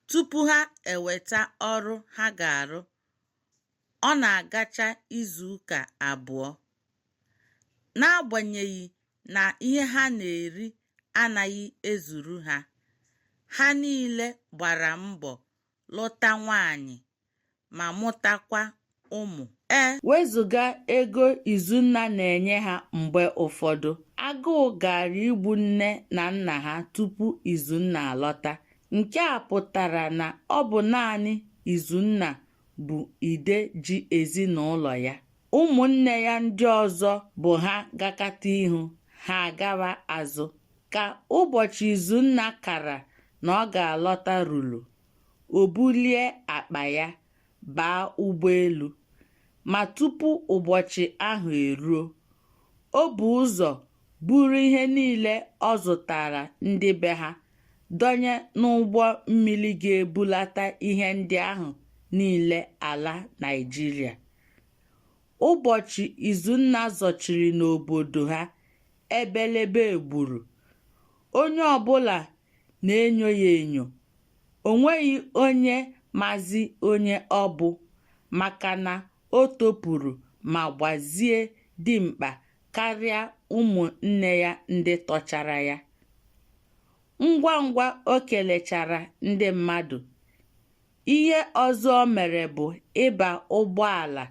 Tupu ha eweta ọrụ ha ga-arụ, ọ na-agacha izu ụka abụọ. N'agbanyeghị na ihe ha na-eri anaghị ezuru ha, ha niile gbara mbọ lụta nwaanyị ma mụtakwa ụmụ e wezụga ego Izunna na-enye ha mgbe ụfọdụ agụụ gaara igbu nne na nna ha tupu Izunna alọta nke a pụtara na ọ bụ naanị Izunna bụ ide ji ezinụlọ ya ụmụnne ya ndị ọzọ bụ ha gakata ihu ha agawa azụ Ka ụbọchị Izunna kara na ọ ga-alọta ruru, o bulie akpa ya baa ụgbọelu. Ma tupu ụbọchị ahụ eruo, o bu ụzọ buru ihe niile ọ zụtara ndị be ha dọnye n'ụgbọ mmiri ga-ebulata ihe ndị ahụ niile ala Naịjirịa. Ụbọchị Izunna zọchiri n'obodo ha ebelebe gburu onye ọbụla na-enyo ya enyo o nweghị onye mazi onye ọ bụ maka na o topuru ma gbazie dimkpa karịa ụmụnne ya ndị tọchara ya ngwa ngwa o kelechara ndị mmadụ Ihe ọzọ o mere bụ ịba ụgbọala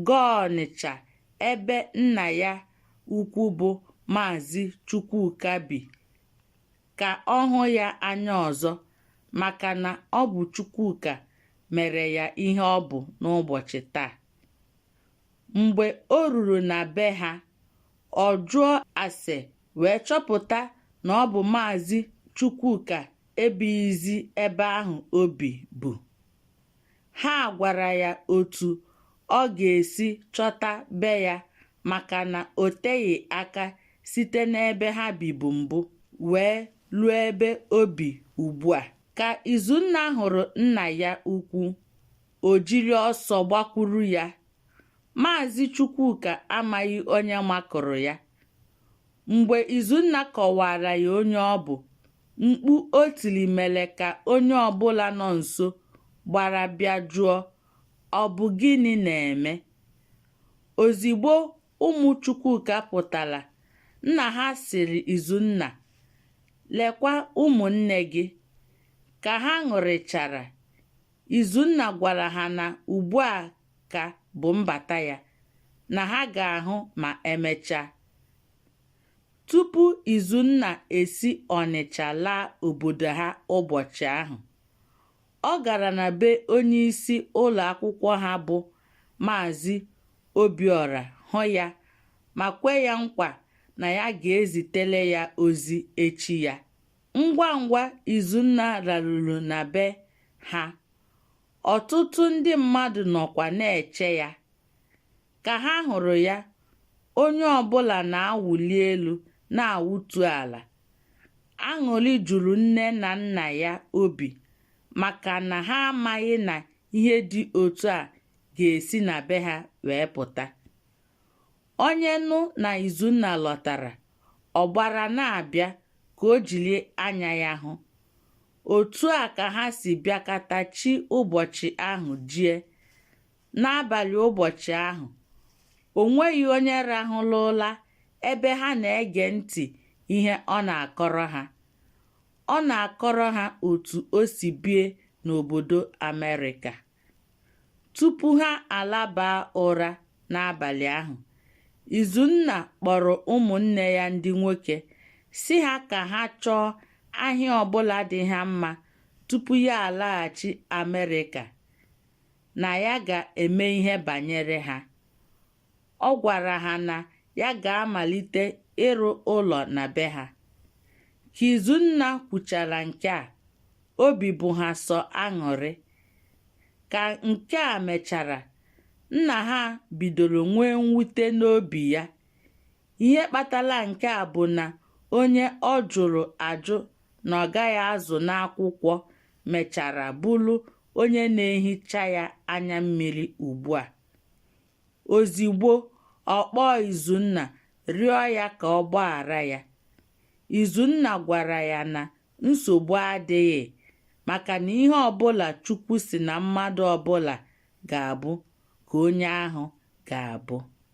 gaa Ọnịcha ebe nna ya ukwu bụ Maazị Chukwuka bi ka ọ hụ ya anya ọzọ maka na ọ bụ Chukwuka mere ya ihe ọ bụ n'ụbọchị taa. Mgbe o ruru na be ha, ọ jụọ ase wee chọpụta na ọ bụ Maazị Chukwuka ebighịzi ebe ahụ o bibu. Ha gwara ya otu ọ ga-esi chọta be ya maka na o teghị aka site n'ebe ha bibu mbụ wee ruo ebe o bi ugbu a. Ka Izunna hụrụ nna ya ukwu, o jiri ọsọ gbakwuru ya. Maazị Chukwuka amaghị onye makụrụ ya. mgbe Izunna kọwaara ya onye ọ bụ mkpu o tiri mere ka onye ọbụla nọ nso gbara bịa jụọ ọ bụ gịnị na-eme ozigbo ụmụ Chukwuka pụtara nna ha sịrị Izunna lekwa ụmụnne gị ka ha ṅụrịchara Izunna gwara ha na ugbu a ka bụ mbata ya na ha ga-ahụ ma emechaa. Tupu Izunna esi Ọnịcha laa obodo ha ụbọchị ahụ, ọ gara na be onyeisi ụlọ akwụkwọ ha bụ Maazị Obiọra hụ ya ma kwe ya nkwa na ya ga-ezitere ya ozi echi ya. Ngwa ngwa Izunna laruru na be ha, ọtụtụ ndị mmadụ nọkwa na-eche ya. Ka ha hụrụ ya, onye ọ bụla na-awụli elu na-awụtu ala. Aṅụrị juru nne na nna ya obi maka na ha amaghị na ihe dị otu a ga-esi na be ha wee pụta. onye nụ na izunna lọtara ọ gbara na-abịa ka o jiri anya ya hụ otu a ka ha si bịakata chi ụbọchị ahụ jie n'abalị ụbọchị ahụ o nweghị onye rahụlụ ụla ebe ha na-ege ntị ihe ọ na-akọrọ ha ọ na-akọrọ ha otu o si bie n'obodo Amerịka Tupu ha alaba ụra n'abalị ahụ, Izunna kpọrọ ụmụnne ya ndị nwoke sị ha ka ha chọọ ahịa ọbụla dị ha mma tupu ya alaghachi Amerịka, na ya ga-eme ihe banyere ha. ọ gwara ha na ya ga-amalite ịrụ ụlọ na be ha. Ka Izunna kwuchara nke a, obi bụ ha sọ aṅụrị. Ka nke a mechara, nna ha bidoro nwee mwute n'obi ya. Ihe kpatara nke a bụ na onye ọ jụrụ ajụ na ọ gaghị azụ n'akwụkwọ mechara bụrụ onye na-ehicha ya anya mmiri ugbu a. Ozigbo ọ kpọọ Izunna rịọ ya ka ọ gbaghara ya. Izunna gwara ya na nsogbu adịghị maka na ihe ọbụla Chukwu sị na mmadụ ọbụla ga-abụ ka onye ahụ ga-abụ.